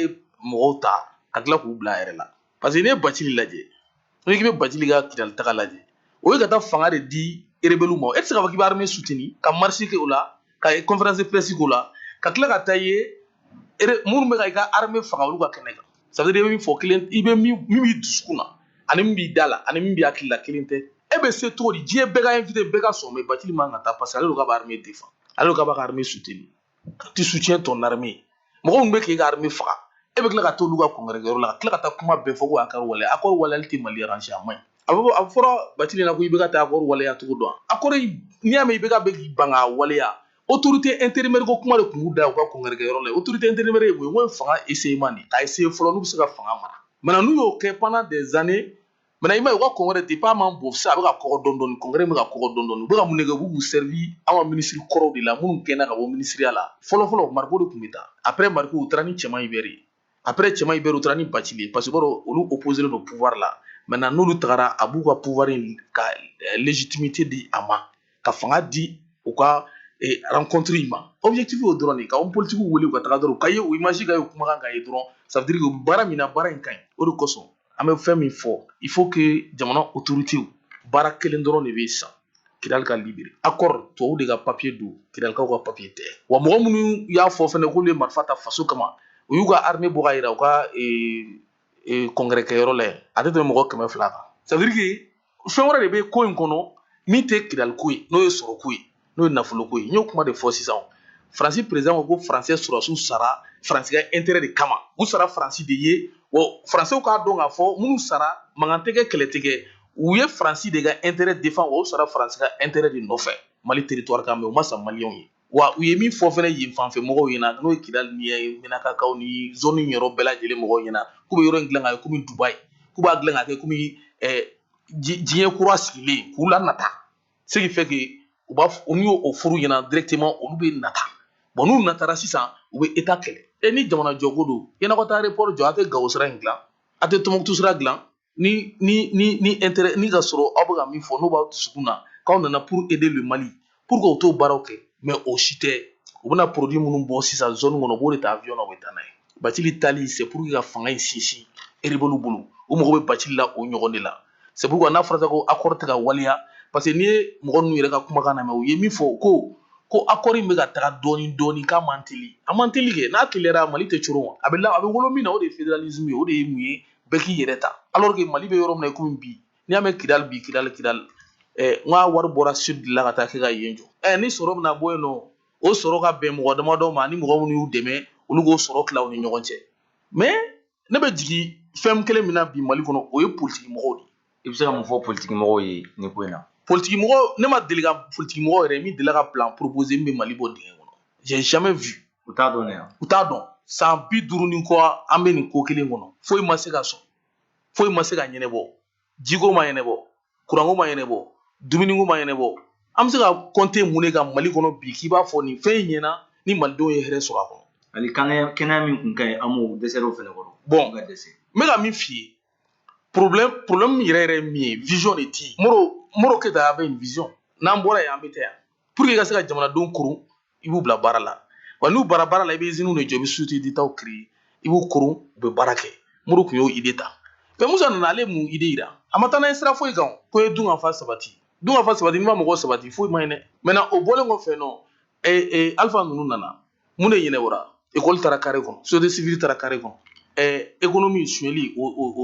mɔgɔw ta ka tila k'u bila a yɛrɛ la parce que n'i ye bacili lajɛ n'i k'i bɛ bacili ka kidali taga lajɛ o ye ka taa fanga de di rebelles ma e tɛ se k'a fɔ k'i bɛ armée soutenu ka marche kɛ o la ka conférence de presse k'o la ka tila ka taa ye minnu bɛ ka i ka armée faga olu ka kɛnɛ kan ça veut dire i bɛ min fɔ kelen i bɛ min min b'i dusukun na ani min b'i da la ani min b'i hakili la kelen tɛ e bɛ se cogo di diɲɛ bɛɛ ka invité bɛɛ ka sɔn mais bacili man ka taa parce que ale de k'a bɛ armée défend ale de k'a b'a ka armée soutenu tu soutiens ton armée mɔgɔ min bɛ k'i ka armée faga e bɛ tila ka t'olu ka congrès yɔrɔ la ka tila ka taa kuma bɛɛ fɔ ko accord wale accord waleyali tɛ mali arranger a man ɲi a bɛ a fɔra bacili la ko IBK tɛ accord waleya cogo dɔn accord n'i y'a mɛn IBK bɛ k'i ban k'a waleya autorité intérimaire ko kuma de tun b'u da u ka congrès yɔrɔ la autorité intérimaire ye mun ye n k'o ye fanga essayement de ye k'a essayer fɔlɔ n'u bɛ se ka fanga mara maintenant n'u y'o kɛ pendant des années maintenant i m'a ye u ka congrès depuis a man bon sisan a bɛ ka kɔgɔ dɔɔni dɔɔni congrès bɛ ka kɔgɔ dɔɔni dɔɔni u bɛ ka mun de kɛ u b'u servir an ka minisiri kɔrɔw de la minnu gɛnna ka bɔ minisiriya la fɔlɔ fɔlɔ mariko de tun bɛ taa après mariko u taara ni cɛman Hubert ye après cɛman Hubert u taara ni bacili ye parce que olu opposélen don pouvoir la maintenant n'olu tagara a b'u ka pouvoir in ka eh, légitimité di a ma ka fanga di u ka eh, rencontre in ma objectif y'o dɔrɔn de ka homme politique wele u ka taga dɔrɔn u ka ye u image ka ye kumakan ka ye dɔrɔn ça veut dire que u bɛ baara min na baara in ka ɲi o de kosɔn an bɛ fɛn min fɔ il faut que jamana autorité baara kelen dɔrɔn de bɛ san kidali ka libéré accord tubabu de ka papier don kidalikaw ka papier tɛ wa mɔgɔ minnu y'a fɔ fɛnɛ k'olu ye marifa ta faso kama u y'u ka armée bɔ ka yira u ka eh, eh, congrès kɛyɔrɔ la yen a tɛ tɛmɛ mɔgɔ kɛmɛ fila kan ça veut dire que fɛn wɛrɛ de bɛ ko in kɔnɔ min tɛ kidaliko ye n'o ye sɔrɔko ye n'o ye nafoloko ye n y'o kuma de fɔ sisan faransi président ko ko faransɛ sɔrɔsiw sara faransi ka intérêt de kama u sara faransi de ye wa faransɛw k'a dɔn k'a fɔ minnu sara mankan tɛ kɛ kɛlɛ tɛ kɛ u ye faransi de ka intérêt défend wa u sara faransi ka intérêt de nɔfɛ mali territoire kan mais u ma sa maliyɛnw ye wa u ye min fɔ fana yen fanfɛ mɔgɔw ɲɛna n'o ye kidali ni minakakaw ni zone in yɔrɔ bɛɛ lajɛlen mɔgɔw ɲɛna k'u bɛ yɔrɔ in dilan ka kɛ komi dubayi k'u b'a dilan ka kɛ komi eh, diɲɛ kura sigilen k'u lanata ce qui fait que u b'a fɔ n'u y'o f'olu ɲɛna directement olu bɛ nata bɔn n'u natara sisan u bɛ état kɛlɛ e ni jamana jɔko don yann'aw ka taa aéroport jɔ a tɛ gawo sira in dilan a tɛ tɔnbukutu sira dilan ni ni ni ni intérêt ni ka sɔrɔ aw bɛ ka min fɔ n'o b'aw dusukun na k'aw nana pour aider le Mali pourquoi u t'o baaraw kɛ mais o si tɛ u bɛna produit minnu bɔ sisan zone kɔnɔ u b'o de ta avion na u bɛ taa n'a ye Bacili taali c'est pour que ka fanga in sinsin rebelles bolo u mago bɛ Bacili la o ɲɔgɔn de la c'est pourquoi n'a fɔra ko accord tɛ ka waleya parce que n'i ye mɔgɔ ninnu yɛrɛ ka kumakan lamɛn u ye min fɔ ko ko accord in bɛ ka taga dɔɔni dɔɔni k'a man teli a man teli kɛ n'a teliyara mali tɛ coron a bɛ a bɛ wolo min na o de ye fédéralisme ye o de ye mun ye bɛɛ k'i yɛrɛ ta alors que mali bɛ yɔrɔ min na i komi bi n'i y'a mɛn kidali bi kidali kidali eh, n ka wari bɔra sud de la ka taa kɛ ka yen jɔ eh, ni sɔrɔ bɛna bɔ yen nɔ o sɔrɔ ka bɛn mɔgɔ damadɔ ma ni mɔgɔ minnu y'u dɛmɛ olu k'o sɔrɔ tila u ni ɲɔgɔn cɛ mais ne bɛ jigin fɛn kelen min na bi mali kɔnɔ o ye politiki mɔgɔw de ye i bɛ se ka mun fɔ politiki mɔgɔw ye nin ko in na politiki mɔgɔ ne ma deli ka politiki mɔgɔ yɛrɛ min delila ka plan proposer min bɛ mali bɔ dingɛ kɔnɔ j'ai jamais vu u t'a dɔn yan u t'a dɔn san bi duuru ni kɔ an bɛ nin ko kelen kɔnɔ foyi ma se ka sɔn foyi ma se ka ɲɛnabɔ jiko ma ɲɛnabɔ kuranko ma ɲɛnabɔ dumuniko ma ɲɛnabɔ an bɛ se ka compter mun de kan mali kɔnɔ bi k'i b'a fɔ nin fɛn in ɲɛna ni malidenw ye hɛrɛ sɔrɔ a kɔnɔ hali kɛnɛya min kun ka ɲi an b'o dɛsɛr'o fɛnɛ kɔrɔ bon ka dɛsɛ n bɛ ka min f'i ye problème problème yɛrɛ yɛrɛ min ye vision de tɛ yen moro moro keyita avait une vision n'an bɔra yen an bɛ taa yan pour que i ka se ka jamanadenw koron i b'u bila baara la wa n'u bara baara la i bɛ iziniw de jɔ i bɛ société d'état créer i b'u koron u bɛ baara kɛ moro tun y'o ide ta mais musa nana ale mun ide yira a ma taa n'a ye sira foyi kan ko ye dunkafa sabati dunkafa sabati n'i ma mɔgɔ sabati foyi ma ɲi dɛ maintenant o bɔlen kɔfɛ nɔ ee ee alifa ninnu nana mun de ɲɛnabɔra ekɔli taara kare kɔnɔ sosiyete sivili taara kare kɔnɔ ɛɛ ekonomi suyɛli o o o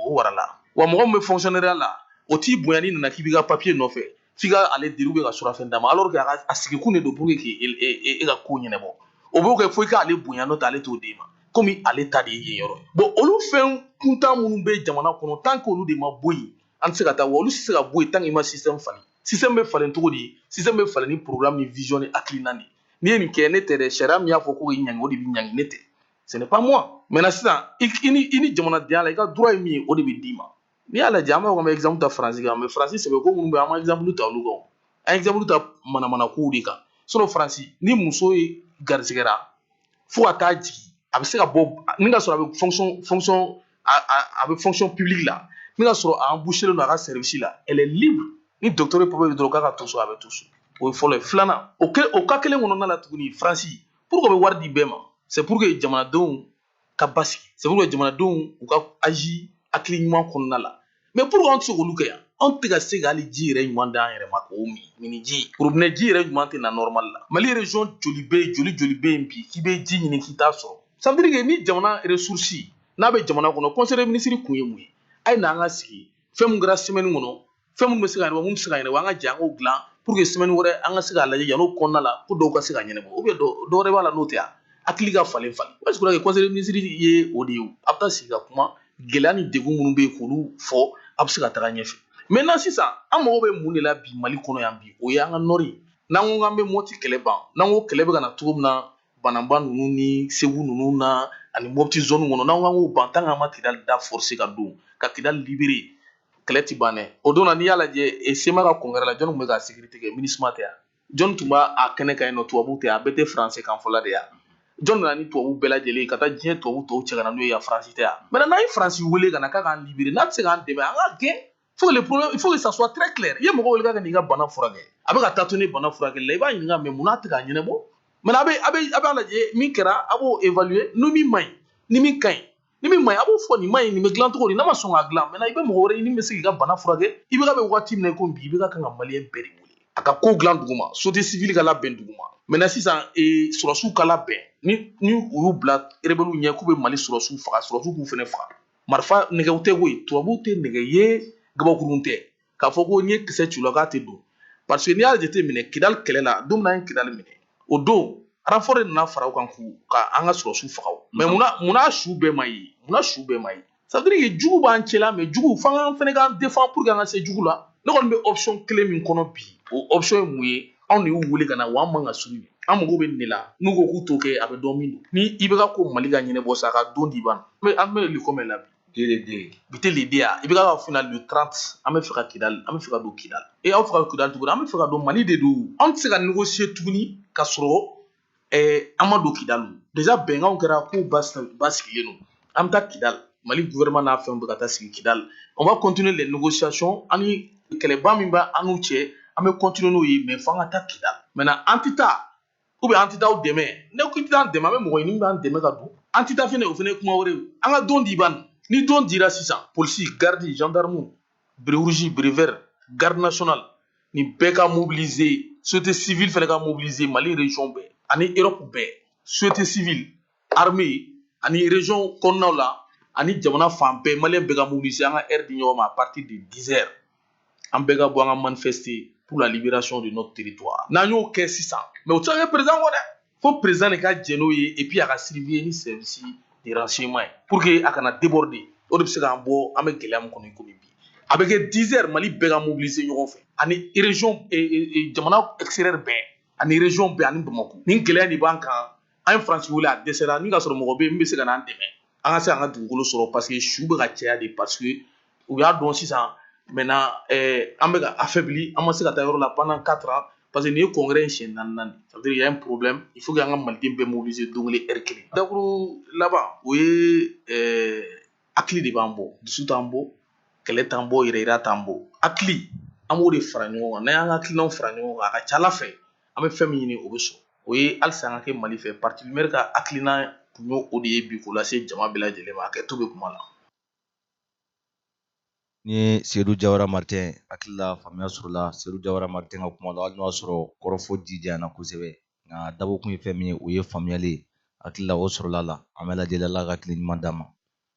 o warala wa mɔgɔ min bɛ fɔnkisiyɔnɛriya la o t'i bonya n'i nana k'i b'i ka papiye nɔfɛ f'i ka ale deli ka surafɛn d'a ma alors que a sigikun de don pour que k'e ka ko ɲɛnabɔ o b'o kɛ fo i k'ale bonya n'o tɛ ale t'o d'e ma komi ale ta de ye yen yɔrɔ ye bon olu fɛn kuntan minnu bɛ jamana kɔnɔ tant que olu de ma bɔ yen an tɛ se ka taa wa olu tɛ se ka bɔ yen tant que i ma système falen système bɛ falen cogo di système bɛ falen ni programme ni vision ni hakilina de ye n'i ye nin kɛ ne tɛ dɛ sariya min y'a fɔ ko k'i ɲangi o de b'i ɲangi ne tɛ ce n'est pas moi maintenant sisan i ni i ni jamanadenya la i ka droit ye min ye o de bɛ d'i ma n'i y'a lajɛ an b'a fɔ k'an bɛ exemple ta faransi kan mais faransi sɛbɛko minnu bɛ yen an ma exemple ta olu kan an ye exemple ta manamana kow de kan sinon faransi ni muso ye garisigɛra fo ka taa jigin a bɛ se ka bɔ ni ka sɔrɔ a bɛ fonction fonction a a a bɛ fonction publique la ni ka sɔrɔ a embauchelen don a ka service la elle est libre ni docteur ye papier dɔrɔn k'a ka to so a bɛ to so o ye fɔlɔ ye filanan o kɛ o ka kelen kɔnɔna la tuguni faransi pourquoi o bɛ wari di bɛɛ ma c'est pour que jamanadenw ka basigi c'est pour que jamanadenw u ka agir hakili ɲuman kɔnɔna la mais pourquoi an tɛ se k'olu kɛ yan anw tɛ ka se ka hali ji yɛrɛ ɲuman d'an yɛrɛ ma k'o min minniji robinɛ ji yɛrɛ ɲuman tɛ na nɔrɔmali la mali région joli bɛ yen joli joli bɛ yen bi k'i bɛ ji ɲini k'i t'a sɔrɔ ça veut dire que ni jamana resursi n'a bɛ jamana kɔnɔ conseil des ministres kun ye mun ye a ye n'an ka sigi fɛn min kɛra semaine kɔnɔ fɛn minnu bɛ se ka ɲɛnabɔ mun tɛ se ka ɲɛnabɔ an ka jɛ k'o dilan pour que semaine wɛrɛ an ka se k'a lajɛ yan'o kɔnɔna la ko dɔw ka se ka ɲɛnabɔ ou bien dɔ wɛrɛ b'a la n'o tɛ yan hakili ka falen falen parce que conseil des ministres ye o de ye a bɛ taa sigi ka kuma gɛlɛya ni degun minnu bɛ yen k'olu fɔ a bɛ se ka taga ɲɛfɛ maintenant sisan an mago bɛ mun de la bi mali kɔnɔ yan bi o ye an ka nɔri n'an ko k'an bɛ mɔti kɛlɛ ban n'an ko kɛlɛ bɛ ka na cogo min na bananba ninnu ni segu ninnu na ani mɔpti zone kɔnɔ n'an ko k'an k'o ban tant que an ma kidali da forcer ka don ka kidali libérer kɛlɛ ti ban dɛ o don na n'i y'a lajɛ e sema ka congrès la jɔni tun bɛ ka sécurité kɛ minusma tɛ yan jɔni tun b'a kɛnɛ kan yen nɔ tubabuw tɛ a bɛɛ tɛ français kan fɔla de yan jɔni nana ni tubabu bɛɛ lajɛlen ka taa diɲɛ tubabu tɔw cɛ ka na n'o ye yan faransi tɛ yan maintenant n'an ye faransi wele ka na k'a k'an libérer n'a tɛ se k'an dɛmɛ an k'a gɛn fo le problème il faut que ça soit très clair i ye mɔgɔ wele k'a ka n'i ka bana furakɛ a bɛ ka taa to ni bana furakɛli la i b'a ɲininka mais mun n'a tɛ k'a ɲɛnabɔ maintenant a bɛ a bɛ a b'a lajɛ min kɛra a b'o évaluer ni min man ɲi ni min ka ɲi ni min man ɲi a b'o fɔ nin man ɲi nin bɛ dilan cogo di n'a ma sɔn k'a dilan maintenant i bɛ mɔgɔ wɛrɛ ɲini min bɛ se k'i ka bana furakɛ ibk bɛ waati min na i ko bi ibk kan ka maliyɛn bɛɛ de wele a ka ko dilan dugu ma société civile ka labɛn dugu ma maintenant sisan sɔrɔsiw ka labɛn ni ni u y'u bila rebeliw ɲɛ k'u bɛ mali sɔrɔsiw faga sɔrɔsiw k'u fana faga marifa nɛgɛw tɛ koyi tubabuw tɛ nɛgɛ ye gabakurun tɛ k'a fɔ ko n'i ye kisɛ ci u la k'a tɛ don parce que n'i y'a jateminɛ kidali kɛlɛ la don min an ye kidali minɛ o don renfort de nana fara u kan k'u ka an ka sɔrɔsiw faga mais munna su bɛɛ ma ye munna su bɛɛ ma ye ça veut dire jugu b'an cɛla mais jugu f'an k'an fana k'an défend pour que an ka se jugu la ne kɔni bɛ option kelen min kɔnɔ bi o option ye mun ye anw de y'u wele ka na wa an man ka sugu an mago bɛ nin de la n'u ko k'u t'o kɛ a bɛ dɔn min don ni ibk ko mali ka ɲɛnabɔ sa a ka don di ban an bɛ le combien la bi bi tɛ le 2 ye ibk ka fina le 30 an bɛ fɛ ka kidali an bɛ fɛ ka don kidali e aw fɛ ka kidali tuguni an bɛ fɛ ka don mali de don an tɛ se ka négocier tuguni ka sɔrɔ ɛɛ an ma don kidal déjà bɛnkanw kɛra ko ba sigilen don an bɛ taa kidal mali gouvernement n'a fɛnw bɛ ka taa sigi kidal on va continuer les négociations ani kɛlɛba min b'a an n'u cɛ an bɛ continuer n'o ye mais fo an ka taa kidal maintenant an tɛ taa ou bien an tɛ taa aw dɛmɛ n'e ko i tɛ taa an dɛmɛ an bɛ mɔgɔ ɲini min b'an dɛmɛ ka don an tɛ taa fɛnɛ o fɛnɛ ye kuma wɛrɛ ye an ka don di ban ni don dira sisan polisi garde gendarme béret rouge béret vert garde nationale ni bɛɛ ka mobiliser société civile fɛnɛ ka mobiliser mali région bɛɛ ani europe bɛɛ société civile armée ani région kɔnɔnaw la ani jamana fan bɛɛ maliyɛn bɛɛ ka mobiliser an ka heure di ɲɔgɔn ma à partir de 10 heures an bɛɛ ka bɔ an ka manifester pour la libération de notre territoire n'an y'o kɛ sisan mais o tɛ se ka kɛ président kɔ dɛ fo président de ka jɛn n'o ye et puis a ka surveiller ni service de renseignement ye pour que a kana déborder o de bɛ se k'an bɔ an bɛ gɛlɛya min kɔnɔ i komi bi a bɛ kɛ 10 heures mali bɛɛ ka mobiliser ɲɔgɔn fɛ ani région eh, eh, eh, jamana extérieur bɛɛ ani région bɛɛ ani bamakɔ nin gɛlɛya de b'an kan an ye faransi wele a dɛsɛra ni ka sɔrɔ mɔgɔ bɛ yen min bɛ se ka n'an dɛmɛ an ka se an ka dugukolo sɔrɔ parce que su bɛ ka caya dɛ parce que u y'a dɔn sisan maintenant eh, an bɛ ka affaibli an ma se ka taa yɔrɔ la pendant 4 ans parce que nin ye congrès in siɲɛ naaninan ça veut dire il y a un problème il faut que an ka maliden bɛɛ mobiliser don kelen heure kelen dakuru laban o ye eh, hakili de b'an bɔ dusu t'an bɔ kɛlɛ t'an bɔ yɛrɛyira t'an bɔ hakili an b'o de fara ɲɔgɔn kan n'an y'an ka hakilinaw fara ɲɔgɔn kan a ka ca ala fɛ an bɛ fɛn min ɲini o bɛ sɔrɔ o ye halisa an ka kɛ mali fɛ parti lumière ka hakilina tun y'o de ye bi k'o lase jama bɛɛ lajɛlen ma a kɛ to bɛ kuma la ni ye sedu jawara martin hakili la faamuya sɔrɔla sedu jawara martin ka kuma la hali n'o y'a sɔrɔ kɔrɔfɔ ji janyana kosɛbɛ nka dabɔkun ye fɛn min ye o ye faamuyali ye hakili la o sɔrɔla la an bɛɛ lajɛlen ala ka hakili ɲuman d'an ma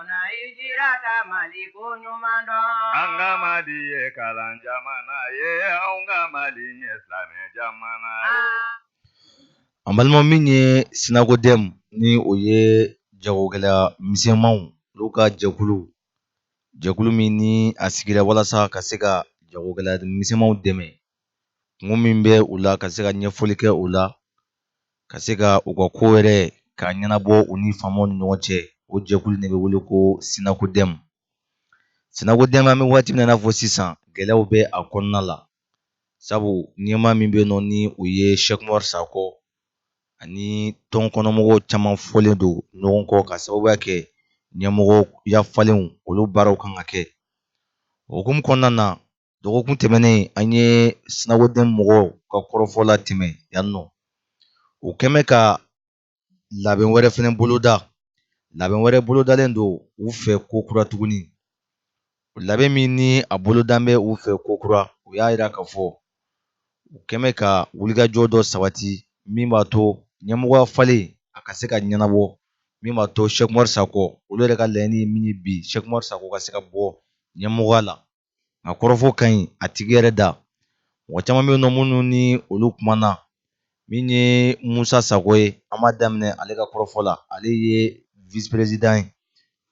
Mana y jira ka mali ko ɲuman dɔn an ka mali ye kalan jamana ye an ka mali ye silamɛ jamana an balima min ye sinakodɛmu ni o ye jagokɛla misɛnmanw olu ka jɛkulu jɛkulu min ni a sigira walasa ka se ka jagokɛla misɛnmanw dɛmɛ kunko min bɛ u la ka se ka ɲɛfɔli kɛ u la ka se ka u ka ko yɛrɛ k'a ɲɛnabɔ u ni faamaw ni ɲɔgɔn cɛ o jɛkulu de bɛ wele ko sinakodɛmu sinakodɛmu an bɛ waati min na i n'a fɔ sisan gɛlɛyaw bɛ a kɔnɔna la sabu ɲɛmaa min bɛ yen nɔ ni o ye sɛkumari sakɔ ani tɔn kɔnɔmɔgɔw caman fɔlen don ɲɔgɔn kɔ ka sababuya kɛ ɲɛmɔgɔya falenw olu baaraw kan ka kɛ o hukumu kɔnɔna na dɔgɔkun tɛmɛnen an ye sinakodɛmu mɔgɔw ka kɔrɔfɔ latɛmɛ yan nɔ u kɛn bɛ ka labɛn wɛrɛ fɛnɛ boloda labɛn wɛrɛ bolodalen don u fɛ ko kura tuguni labɛn min ni a bolodalen bɛ u fɛ ko kura u y'a jira k'a fɔ u kɛn bɛ ka wulikajɔ dɔ sabati min b'a to ɲɛmɔgɔya falen a ka se ka ɲɛnabɔ min b'a to Sɛkumari Sakɔ olu yɛrɛ ka laɲini ye min ye bi Sɛkumari Sakɔ ka se ka bɔ ɲɛmɔgɔya la nka kɔrɔfɔ ka ɲi a tigi yɛrɛ da mɔgɔ caman bɛ yen nɔ minnu ni olu kumana min ye musa sago ye an b'a daminɛ ale ka kɔrɔfɔ la ale ye vice président ye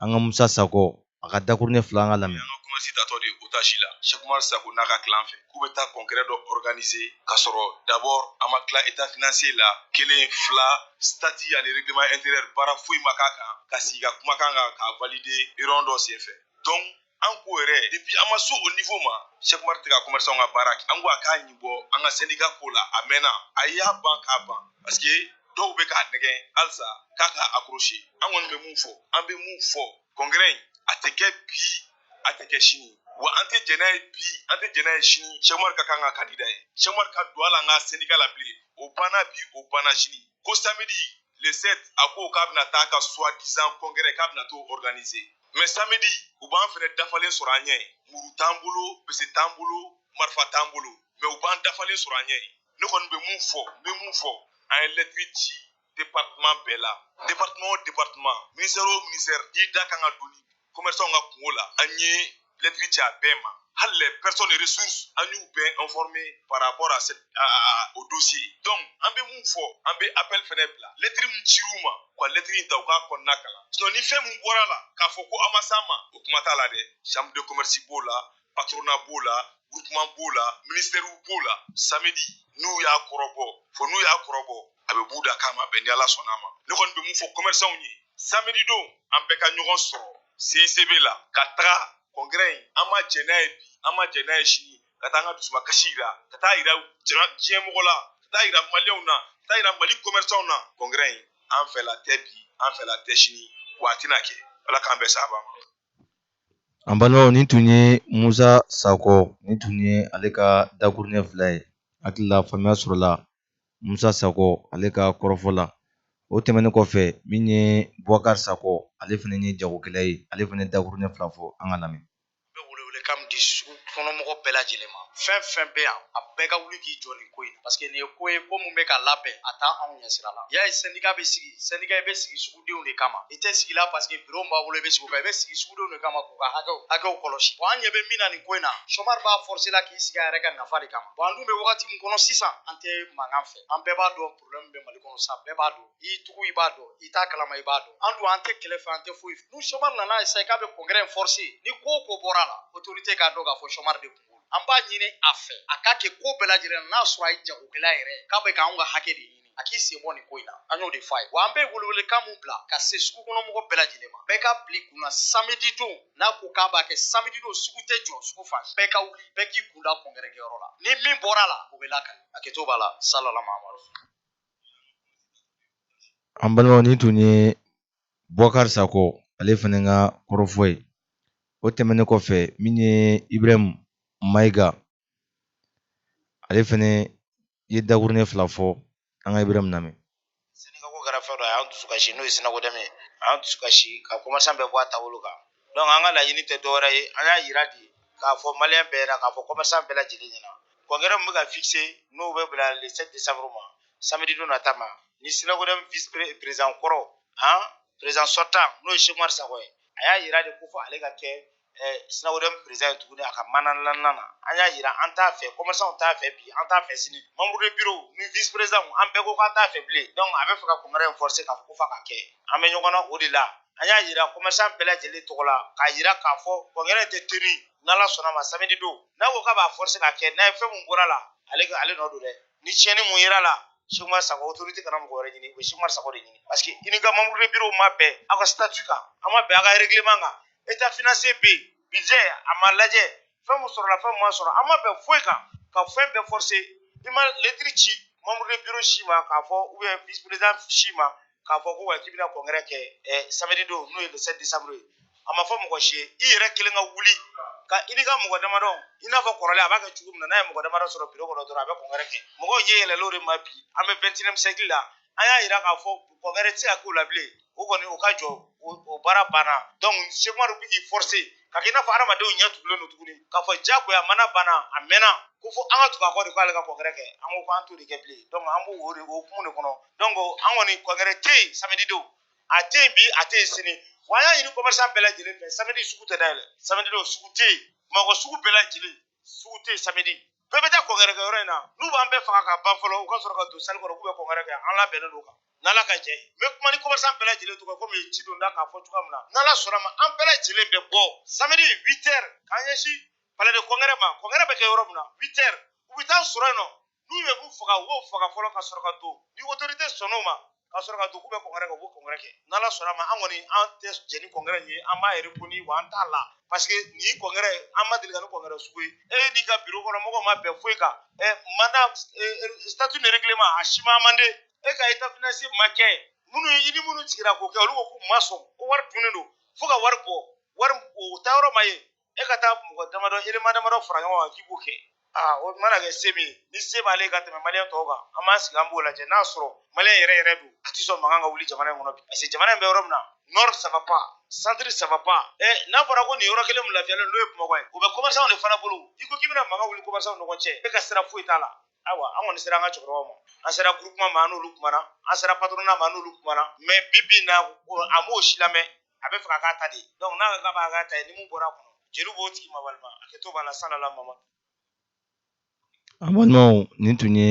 an ka musa sago a ka dakuruɲɛ fila an k'a lamɛn an ka commerce tatɔ de otage la sekumar sago n'a ka clan fɛ k'u bɛ taa congrès dɔ organiser ka sɔrɔ d'abord an ma tila état financier la kelen fila statut ani règlement intérieur baara foyi ma k'a kan ka sigi ka kuma a kan k'a valider réunion dɔ senfɛ donc an ko yɛrɛ depuis an ma se o niveau ma Cheikh Umar tɛ ka commerçant ka baara kɛ an ko a k'a ɲi bɔ an ka syndicat ko la a mɛnna a y'a ban k'a ban parce que dɔw bɛ k'a nɛgɛn halisa k'a ka accrocher an kɔni bɛ mun fɔ an bɛ mun fɔ congrès in a tɛ kɛ bi a tɛ kɛ sini wa an tɛ jɛn n'a ye bi an tɛ jɛn n'a ye sini Cheikh Umar ka kɛ an ka candidat ye Cheikh Umar ka don a la an ka syndicat la bilen o banna bi o banna sini ko samedi le 7 a ko k'a bɛna taa a ka soi disant congrès k'a bɛna t'o organiser mɛ samedi u b'an fɛnɛ dafalen sɔrɔ an ɲɛ muru t'an bolo bese t'an bolo marifa t'an bolo mɛ u b'an dafalen sɔrɔ an ɲɛ ne kɔni bɛ mun fɔ n bɛ mun fɔ an ye lɛtiri ci departeman bɛɛ la departeman o departeman minisitɛri o minisitɛri n'i da kan ka don ni kɔmɛrisanw ka kunko la an ye lɛtiri ci a bɛɛ ma hali les personnes ressources an y'u bɛɛ informer par rapport à cette à, à, au dossier donc an bɛ mun fɔ an bɛ appel fɛnɛ bila lettre min cir'u ma u ka lettre in ta u k'a kɔnɔna kalan sinon ni fɛn min bɔra a la k'a fɔ ko an ma s'a ma o kuma t'a la dɛ chambre de commerce b'o la patronat b'o la groupement b'o la ministère b'o la samedi n'u y'a kɔrɔbɔ fo n'u y'a kɔrɔbɔ a bɛ b'u da k'a ma bɛn ni ala sɔnna a ma ne kɔni bɛ mun fɔ commerçanw ye samedi don an bɛɛ ka ɲɔgɔn sɔrɔ CICB la ka taga kɔnkɛrɛ in an ma jɛn n'a ye bi an ma jɛn n'a ye sini ka taa an ka dusukasi yira ka taa yira jama diɲɛ mɔgɔ la ka taa yira maliyɛnw na ka taa yira mali kɔmɛrisanw na kɔnkɛrɛ in an fɛla tɛ bi an fɛla tɛ sini wa a tɛna kɛ ala k'an bɛɛ saba ma an balimaw nin tun ye musa sakɔ nin tun ye ale ka dakuruɲɛ fila ye hakili la faamuya sɔrɔla musa sako ale ka kɔrɔfɔ la o tɛmɛnen kɔfɛ min ye bubakari sako ale fana ye jagokɛla ye ale fana ye dakuruɲɛ fila fɔ an ka lamɛn bɛ welewele kan di sugu kɔnɔmɔgɔ bɛɛ lajɛlen ma fɛn fɛn bɛ yan a bɛɛ ka wuli k'i jɔ nin ko in na parce que nin ye ko ye ko min bɛ ka labɛn a t'anw ɲɛsira la y'a ye syndicat bɛ sigi syndicat bɛ sigi sugu sugudenw de kama i tɛ sigi la paseke biro b'a bolo i bɛ sigi o kan i bɛ sigi sugudenw de kama k'u ka hakɛw hakɛw kɔlɔsi bɔn an ɲɛ bɛ min na nin ko in na sɔmari b'a forse la k'i sigi a yɛrɛ ka nafa de kama bɔn an dun bɛ wagati min kɔnɔ sisan an tɛ mankan fɛ an bɛɛ b'a dɔn problɛmu bɛ mali kɔnɔ sa bɛɛ b'a dɔn i tugu i b'a dɔn i t'a kalama i b'a dɔn an dun an tɛ kɛlɛ fɛ an tɛ foyi fɛ n'u sɔmari nana essayer k'a bɛ kɔnkɛrɛ in forse ni ko o ko bɔra a la otorite k'a dɔn k'a fɔ sɔmari de kunko an b'a ɲini a fɛ a ka kɛ ko bɛɛ lajɛlen na n'a sɔrɔ a ye jagokɛla yɛrɛ k'a bɛ k'anw ka hakɛ de ɲini a k'i sen bɔ nin ko in na an y'o de fɔ a ye wa an bɛ welewelekan mun bila ka se sugu kɔnɔ mɔgɔ bɛɛ lajɛlen ma bɛɛ ka bil'i kun na samedi don n'a ko k'a b'a kɛ samedi don sugu tɛ jɔ sugu fan bɛɛ ka wuli bɛɛ k'i kun da kɔnkɛrɛ kɛyɔrɔ la ni min bɔra a la o bɛ lakari a kɛto b'a la salala mahamadu an balimaw nin tun ye bubakari sako ale fana ka kɔrɔfɔ ye o tɛmɛnen kɔfɛ min ye ibrahim maiga ale fɛnɛ ye dakuruɲɛ fila fɔ an ka ibrahim lamɛn syndicat ko kɛra fɛn dɔ a y'an dusu kasi n'o ye SYNACODEM a y'an dusu kasi ka kɔmasan bɛɛ bɔ a taabolo kan donc an ka laɲini tɛ dɔwɛrɛ ye an y'a yira de k'a fɔ maliyɛn bɛɛ la k'a fɔ kɔmasan bɛɛ lajɛlen ɲɛna kɔnkɛrɛ min bɛ ka fixé n'o bɛ bila le 7 décembre ma samedi don nata ma ni SYNACODEM vice président kɔrɔ han président sortant n'o ye sekumari sakɔ ye a y'a yira de ko fo ale ka kɛ SYNACODEM perezidan ye tuguni a ka mandat na an y'a yira an t'a fɛ kɔmɛrisanw t'a fɛ bi an t'a fɛ sini membre de bureau ni visi perezidan an bɛɛ ko k'an t'a fɛ bilen dɔnku a bɛ fɛ ka kɔnkɛrɛ in fɔrse k'a fɔ ko f'a ka kɛ an bɛ ɲɔgɔn na o de la an y'a yira kɔmɛrisan bɛɛ lajɛlen tɔgɔ la k'a yira k'a fɔ kɔnkɛrɛ tɛ tenir n'ala sɔnna ma samedi don n'a ko k'a b'a fɔrse ka kɛ n'a ye fɛn mun bɔra a la ale ale nɔ don dɛ ni tiɲɛni mun yera a la Sumar Sago autorité kana mɔgɔ wɛrɛ ɲini u bɛ Sumar Sago de ɲini parce que i n'i ka membre de bureau ma bɛn aw ka statut kan a ma bɛn aw ka règlement kan état financier bɛ yen budget a ma lajɛ fɛn min sɔrɔla fɛn min ma sɔrɔ an ma bɛn foyi kan ka fɛn bɛɛ forcer i ma lettre ci membre de bureau si ma k'a fɔ ou bien vice président si ma k'a fɔ ko wa k'i bɛna congrès kɛ ɛ samedi don n'o ye le 7 décembre ye a ma fɔ mɔgɔ si ye i yɛrɛ kelen ka wuli ka i ni ka mɔgɔ damadɔ i n'a fɔ kɔrɔlen a b'a kɛ cogo min na n'a ye mɔgɔ damadɔ sɔrɔ bureau kɔnɔ dɔrɔn a bɛ congrès kɛ mɔgɔw ɲɛ yɛlɛla o de ma bi an bɛ 21 siècle la an y'a yira k'a fɔ congrès tɛ se ka k'o la bilen o kɔni o ka jɔ o baara banna donc cheick oumar bɛ k'i forcer ka kɛ i n'a fɔ adamadenw ɲɛ tugulen don tuguni k'a fɔ jagoya mandat banna a mɛnna ko fo an ka tugu a kɔ de k'ale ka congrès kɛ an ko k'an t'o de kɛ bilen donc an b'o o hukumu de kɔnɔ donc an kɔni congrès tɛ yen samedi don a tɛ yen bi a tɛ yen sini wa an y'a ɲini commerçant bɛɛ lajɛlen fɛ samedi sugu tɛ dayɛlɛ samedi don sugu tɛ yen bamakɔ sugu bɛɛ lajɛlen sugu tɛ samedi bɛɛ bɛ taa congrès kɛ yɔrɔ in na n'u b'an bɛɛ faga ka ban fɔlɔ u ka sɔrɔ ka don salle kɔnɔ k'u bɛ congrès kɛ an labɛnnen don kan n'ala ka jɛ ye n bɛ kuma ni commerçant bɛɛ lajɛlen tɔgɔ komi ci don da k'a fɔ cogoya min na n'ala sɔnn'a ma an bɛɛ lajɛlen bɛ bɔ samedi 8 heures k'an ɲɛsin palais de congrès ma congrès bɛ kɛ yɔrɔ min na 8 heures u bɛ t'an sɔrɔ yen nɔ n'u bɛ k'u faga u b'o faga fɔlɔ ka sɔrɔ ka don ni autorité sɔnn'o ma ka sɔrɔ ka don k'u bɛ congrès kɛ u b'o congrès kɛ n'ala sɔnn'a ma an kɔni an tɛ jɛ ni congrès ye an b'a reconnu wa an t'a la parce que nin congrès an ma deli ka nin congrès sugu ye e n'i ka bureau kɔnɔ mɔgɔw ma bɛn foyi kan ɛ mandat statut ni règlement a si ma amendé e ka état financier ma kɛ minnu i ni minnu sigira k'o kɛ olu ko k'u ma sɔn ko wari dunnen don fo ka wari bɔ wari o taa yɔrɔ ma ye e ka taa mɔgɔ damadɔ élément damadɔ fara ɲɔgɔn kan k'i b'o kɛ aa o mana kɛ se min ni se b'ale ka tɛmɛ maliyɛn tɔw kan an b'an sigi an b'o lajɛ n'a sɔrɔ maliyɛn yɛrɛ yɛrɛ don a tɛ sɔn mankan ka wuli jamana in kɔnɔ bi parce que jamana in bɛ yɔrɔ min na nord ça va pas centre ça va pas ɛ n'a fɔra ko nin yɔrɔ kelen min lafiyalen n'o ye bamakɔ ye o bɛ commerçant de fana bolo i ko k'i bɛna mankan wuli commerçant ni ɲɔgɔn cɛ e ka sira foyi t'a la ayiwa an kɔni sera an ka cɛkɔrɔbaw ma an sera groupement ma an n'olu kumana an sera patronat ma an n'olu kumana mais bi bi in na a m'o si lamɛn a b'a fɛ k'a k'a ta de donc n'a k'a b'a k'a ta ye ni mun bɔra a kɔnɔ jeli b'o tigi ma walima a kɛtɔ b'a la salala mama an balimaw nin tun ye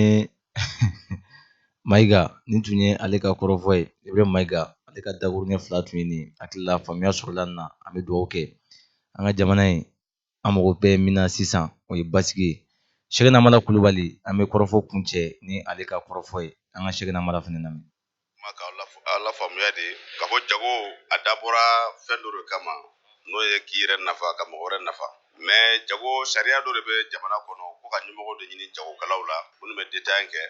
mayiga nin tun ye ale ka kɔrɔfɔ ye ibrahim mayiga ale ka dakuruɲɛ fila tun ye nin hakili la faamuya sɔrɔla nin na an bɛ dugawu kɛ an ka jamana in an mago bɛ min na sisan o ye basigi ye cheickna hamala kulubali an bɛ kɔrɔfɔ kuncɛ ni ale ka kɔrɔfɔ ye an ka cheickna hamala fana lamɛn k'aw lafaamuya de k'a fɔ jago a dabɔra fɛn dɔ de kama n'o ye k'i yɛrɛ nafa ka mɔgɔ wɛrɛ nafa mais jago sariya dɔ de bɛ jamana kɔnɔ ko ka ɲɛmɔgɔ de ɲini jagokɛlaw la minnu bɛ détail kɛ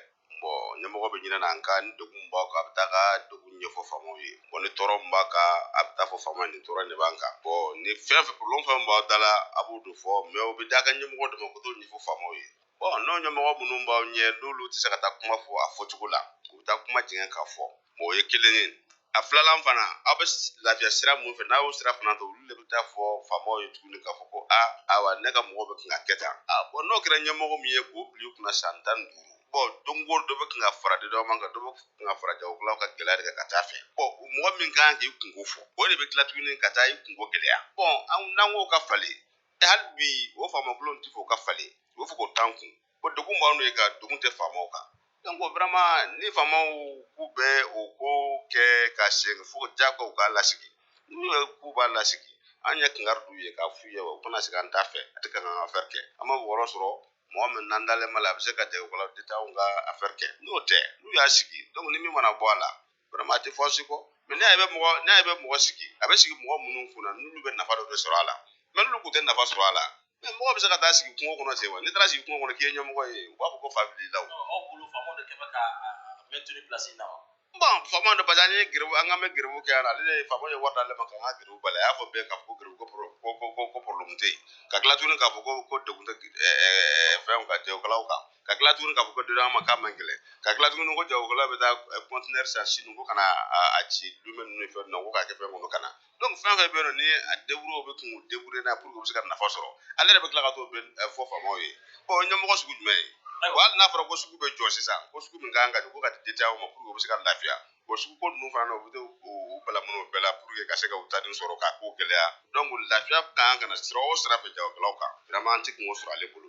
ɲɛmɔgɔ bɛ ɲini an ka ni degun b'aw kan a bɛ taa ka degun ɲɛfɔ faamaw ye bon ni tɔɔrɔ min b'a kan a bɛ taa fɔ faama ye nin tɔɔrɔ in de b'an kan bon ni fɛn fɛn problème fɛn min b'aw da la a b'o de fɔ mais o bɛ d'a ka ɲɛmɔgɔ de ma u ka t'o ɲɛfɔ faamaw ye bon n'o ɲɛmɔgɔ minnu b'aw ɲɛ n'olu tɛ se ka taa kuma fɔ a fɔcogo la u bɛ taa kuma jigin k'a fɔ o ye kelen ye a filanan fana aw bɛ lafiya sira mun fɛ n'a y'o sira fana ta olu de bɛ taa fɔ faamaw ye tuguni k'a fɔ ko ayiwa ne ka mɔgɔ bɛ kan ka kɛ tan a bon n'o kɛra ɲɛmɔgɔ min ye k'o bila u kunna san tan ni duuru bon donc o dɔ bɛ kan ka fara dédouanement kan dɔ bɛ kan ka fara jagokɛlaw ka gɛlɛya de kan ka taa fɛ bon mɔgɔ min kan k'i kunko fɔ o de bɛ tila tuguni ka taa i kunko gɛlɛya bon n'an ko o ka falen hali bi o faamakolon tɛ fɔ o ka falen u bɛ fɔ k'o t'an kun ko degun b'an n'o ye ka degun tɛ faamaw kan donc vraiment ni faamaw k'u bɛ o ko kɛ ka se fo jagow k'a lasigi n'u ye k'u b'a lasigi an ye kangari d'u ye k'a f'u ye u kan'a sigi an t'a fɛ a tɛ kan k'an ka affaire kɛ an maa wɛrɛ sɔrɔ mɔgɔ min n'an dalen b'a la a bɛ se ka jagokɛlaw détaillants ka affaire kɛ n'o tɛ n'u y'a sigi donc ni min mana bɔ a la vraiment a tɛ fosi kɔ mais n'a bɛ mɔgɔ n'a bɛ mɔgɔ sigi a bɛ sigi mɔgɔ minnu kunna n'olu bɛ nafa dɔ de sɔrɔ a la mais n'olu tun tɛ nafa sɔrɔ a la mais mɔgɔ bɛ se ka taa sigi kungo kɔnɔ ten wa n'i taara sigi kungo kɔnɔ k'i ye ɲɛmɔgɔ ye u b'a fɔ ko fa b'i la o. aw bolo faama de kɛ bɛ k'a maintenir pilasi in na wa. bon faama de parce que an ye gɛrɛbu an k'an bɛ gɛrɛbu kɛ yan ale de faama ye wari d'ale ma k'an ka gɛrɛbu bali a y'a fɔ bɛɛ k'a fɔ ko gɛrɛbu ko ko ko ko ko porobilɛmu tɛ yen ka tila tuguni k'a fɔ ko ko degun tɛ fɛnw kan jagokɛlaw kan ka tila tuguni k'a fɔ ko dédouanement k'a man gɛlɛn ka tila tuguni ko jagokɛlaw bɛ taa kɔntinɛri san Sini ko ka na a ci Lome ninnu ni fɛn ninnu na ko k'a kɛ fɛn kɔnɔ ka na donc fɛn o fɛn bɛ yen nɔ ni a deburu u bɛ k'u débrouiller n'a pour que u bɛ se ka nafa sɔrɔ ale yɛrɛ bɛ tila ka t'o bɛɛ fɔ faamaw ye bon ɲɛmɔgɔ sugu jumɛn ye wa hali n'a fɔra ko sugu bɛ jɔ sisan ko sugu min kan ka jɔ ko ka di détaillants ma pour que u bɛ se ka lafiya bon sugu ko ninnu fana na u bɛ to u bala minnu bɛɛ la pour que ka se ka u tanin sɔrɔ k'a ko gɛlɛya donc lafiya kan ka na sira o sira fɛ jagokɛlaw kan vraiment an tɛ kan k'o sɔrɔ ale bolo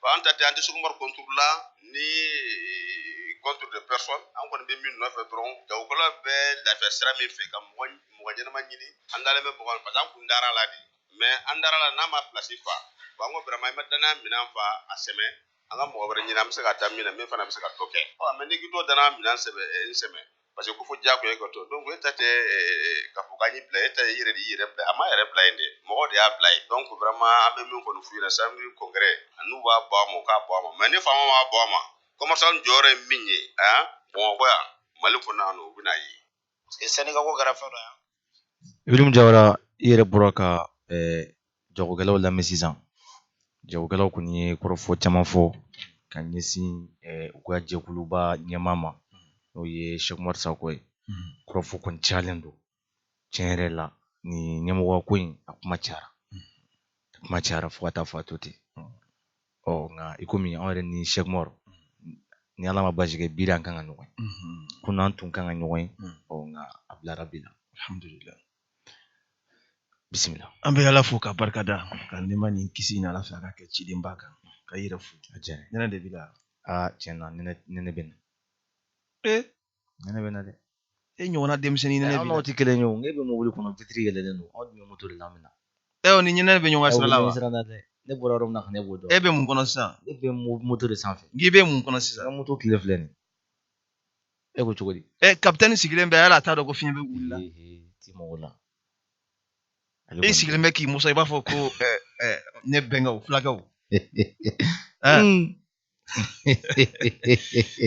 bon an ta tɛ an tɛ Shekumar contre la ni contre de personne an kɔni bɛ min nɔfɛ dɔrɔn jagokɛlaw bɛ lafiya sira min fɛ ka mɔgɔ ɲɛnama ɲini an dalen bɛ mɔgɔ parce que an kun dara la de mais an dara la n'a ma pilasi fa bon an ko vraiment i ma danaya minɛn fa a sɛmɛ an ka mɔgɔ wɛrɛ ɲini an bɛ se ka taa min na min fana bɛ se ka dɔ kɛ mais n'i k'i to danaya minɛn sɛbɛ n sɛmɛ parce que ko fo jagoya e ka to donc e ta tɛ k'a fɔ k'an y'i bila e ta ye i yɛrɛ de y'i yɛrɛ bila a ma yɛrɛ bila yen dɛ mɔgɔ de y'a bila yen donc vraiment an bɛ min kɔni f'u ɲɛna samedi congrès n'u b'a bɔ a ma u k'a bɔ a ma mais ni faama m'a bɔ a ma commerçant jɔyɔrɔ ye min ye bamakɔ yan mali kɔnɔ yan nɔ u bɛn'a ye parce que syndicat ko kɛra fɛn dɔ yan Ibrahim Jawara i yɛrɛ bɔra ka eh, jagokɛlaw lamɛn sisan jagokɛlaw kɔni ye kɔrɔfɔ caman fɔ ka ɲɛsin eh, u ka jɛkuluba ɲɛmaa ma n'o ye Shekumar Sako ye mm-hmm. kɔrɔfɔ kɔni cayalen don tiɲɛ yɛrɛ la nin ɲɛmɔgɔya ko in a kuma cayara mm-hmm. a kuma cayara fo ka taa fɔ a to ten ɔ nka i komi anw yɛrɛ ni Shekumar ni ala ma basi kɛ bi an kan ka ɲɔgɔn ye kunun an tun kan ka ɲɔgɔn ye ɔ nka a bilara bi la alhamdulillah bisimila an bɛ ala fo ka barika da ka nɛɛma ni kisi ɲini ala fɛ a ka kɛ cidenba kan k'i yɛrɛ fo a jɛnɛ nɛnɛ de b'i la aa tiɲɛ na nɛnɛ bɛ n na ee nɛnɛ bɛ na dɛ e ɲɔgɔnna denmisɛnnin ne n'aw tɛ kelen ye o ne bɛ mobili kɔnɔ vitiri yɛlɛlen don aw dun bɛ moto de la min na ɛ o ni nɛnɛ bɛ ɲɔgɔn sira la wa sira la dɛ ne bɔra yɔrɔ min na ka ne b'o dɔn e bɛ mun kɔnɔ sisan ne bɛ moto de sanfɛ n'i bɛ mun kɔnɔ sisan n ka moto kile filɛ nin e ko cogo di ɛ kapitɛni sigilen bɛ yala a t'a dɔn ko fiɲɛ bɛ wuli la ti mɔgɔ la e sigilen bɛ k'i musa i b'a fɔ ko ne bɛnkɛw fulakɛw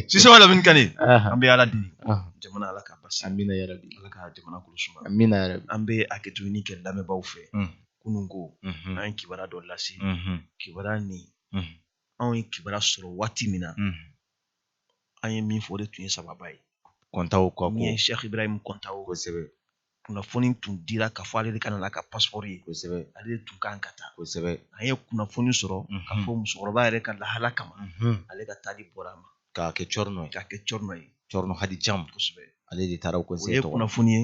sise wala min kani Aha, an bɛ ala deli aha. jamana ala ka basi amina yarabi ala ka jamana kolo suma amina yarabi an bɛ hakɛtoni kɛ lamɛnbaaw fɛ Mm. kunun ko Mhm, an ye kibaruya dɔ lase mhm, kibaruya nin mhm, anw ye kibaruya sɔrɔ waati min na mhm. an ye min fɔ o de tun ye sababa ye kɔntaw ka min ye ko sɛki ibrahim kɔntaw kosɛbɛ kunnafoni tun dira k'a fɔ ale de ka na n'a ka paspɔri ye kosɛbɛ ale de tun kan ka taa kosɛbɛ an ye kunnafoni sɔrɔ k'a fɔ musokɔrɔba yɛrɛ ka lahala kama ale ka taali bɔra a ma k'a kɛ cɔrinɔ ye k'a kɛ cɔrinɔ ye cɔrinɔ hadi cam kosɛbɛ ale de taara o kɔnse tɔgɔ kunnafoni ye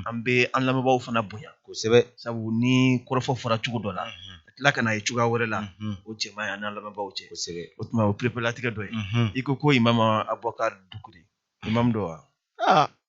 an bɛ an lamɛnbaaw fana bonya kosɛbɛ sabu ni kɔrɔfɔ fɔra cogo dɔ la ka tila ka na ye cogoya wɛrɛ la o cɛ man ɲi an n'an lamɛnbaaw cɛ kosɛbɛ o tuma o pereperelatigɛ dɔ ye i ko ko imamu abubakar dukure imam dɔ wa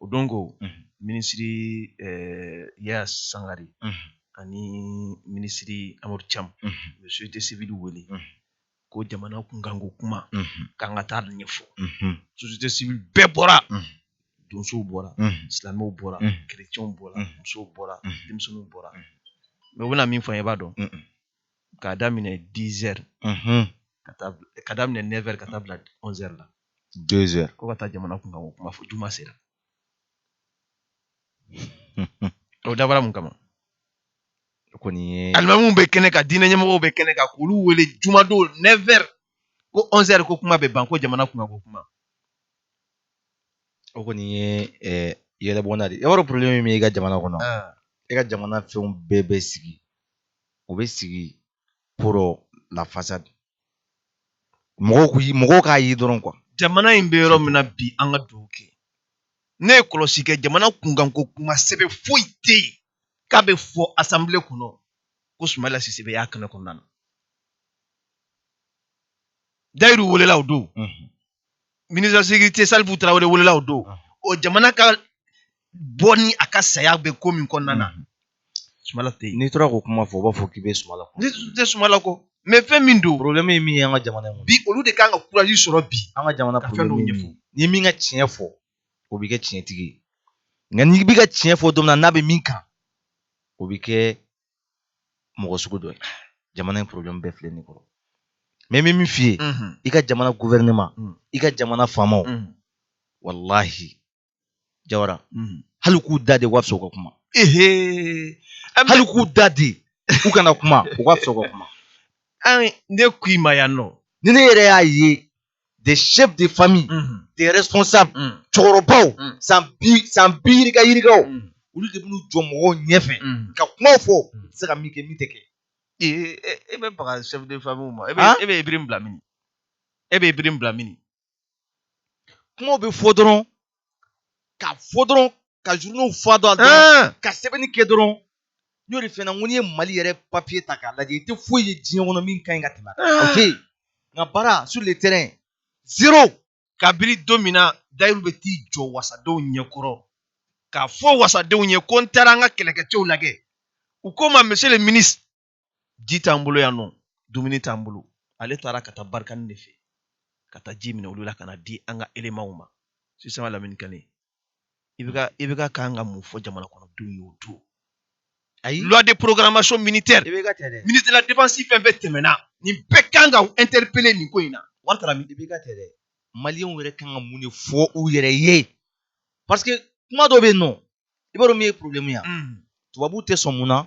o don ko minisiri eh, yaya sangare ani minisiri amadu cam u ye société civile wele ko jamana kunkanko kuma k'an ka taa ɲɛfɔ société civile bɛɛ bɔra donsow bɔra silamɛw bɔra kerecɛnw bɔra musow bɔra denmisɛnninw bɔra mɛ u bɛna min fɔ an ye i b'a dɔn k'a daminɛ 10 heures ka taa bila- k'a daminɛ 9 heures ka taa bila 11 heures la dezɛri ko ka taa jamana kunkanko kuma fɔ juma sera o dabɔra mun kama kɔni ye alimamu bɛ kɛnɛ kan diinɛ ɲɛmɔgɔw bɛ kɛnɛ kan k'olu wele jumadon nɛfɛri ko ɔnzɛri ko kuma bɛ ban ko jamana kunkanko kuma o kɔni ye eh, yɛlɛbɔnna de ye yɔrɔ porobilɛmu min bɛ i ka jamana kɔnɔ ah. i ka jamana fɛnw bɛɛ bɛ sigi u bɛ sigi pour la façade mɔgɔw k'u ye mɔgɔw k'a ye dɔrɔn kuwa jamana in bɛ yɔrɔ min na bi an ka duwa kɛ ne ye kɔlɔsi kɛ jamana kunkanko kuma sɛbɛ foyi tɛ yen k'a bɛ fɔ asanbile kɔnɔ ko sumayila sise bɛ y'a kɛnɛ kɔnɔna na dayiru welela o don ministre de sécurité salifu tarawele welela o don o jamana ka bɔ ni a ka saya bɛ ko min kɔnɔna na mhm. sumala tɛ yen n'i tora k'o kuma fɔ u b'a fɔ k'i bɛ sumala kɔ ne tɛ sumala kɔ mɛ fɛn min don problème ye min ye an ka jamana in bi olu de kan ka kuraji sɔrɔ bi an ka jamana ka fɛn dɔw ɲɛfɔ ni min ka tiɲɛ fɔ o bɛ kɛ tiɲɛtigi ye nka n'i bɛ ka tiɲɛ fɔ don min na n'a bɛ min kan o bɛ kɛ mɔgɔ sugu dɔ ye jamana in problème bɛɛ filɛ nin kɔrɔ mais n bɛ min f'i ye i ka jamana gouvernement mm. i ka jamana faamaw mm. walahi jawara mm. hali k'u da de u ka fisa u ka kuma hali k'u da de u kana kuma u ka fisa u ka kuma ne k'i ma yan nɔ ni ne yɛrɛ y'a ye des chefs de famille mhm. des responsables mhm. cɛkɔrɔbaw mhm. san bi san bi yirika yirikaw olu de b'u jɔ mɔgɔw ɲɛfɛ ka kumaw fɔ tɛ se ka min kɛ min tɛ kɛ. ee e bɛ baga chef de famille ma e bɛ e bɛ ibrim bila min e bɛ ibrim bila min kumaw bɛ fɔ dɔrɔn ka fɔ dɔrɔn ka journaux fa dɔn a dɔrɔn ka sɛbɛnni kɛ dɔrɔn n y'o de f'i ɲɛna n ko n'i ye mali yɛrɛ papiye ta k'a lajɛ i tɛ foyi ye diɲɛ kɔnɔ min ka ɲi ka tɛmɛ a kan ok nka baara sur le terrain zéro kabiri don min na dayiru bɛ t'i jɔ wasadenw ɲɛkɔrɔ k'a fɔ wasadenw ye ko n taara an ka kɛlɛkɛcɛw lajɛ u ko n ma monsieur le ministre ji t'an bolo yan nɔ dumuni t'an bolo ale taara ka taa barkhane de fɛ ka taa ji minɛ olu la ka na di an ka elemanw ma sisan lamini kane IBK IBK kan ka mun fɔ jamana kɔnɔdenw ye o don ayi loi de programmation militaire ministre de la défense fɛn fɛn tɛmɛna nin bɛɛ kan ka interpeller nin ko in na wari taara min IBK tɛ dɛ maliyɛnw yɛrɛ kan ka mun de fɔ u yɛrɛ ye parce que kuma dɔ bɛ yen nɔ i b'a dɔn min ye problème ye tubabuw tɛ sɔn mun na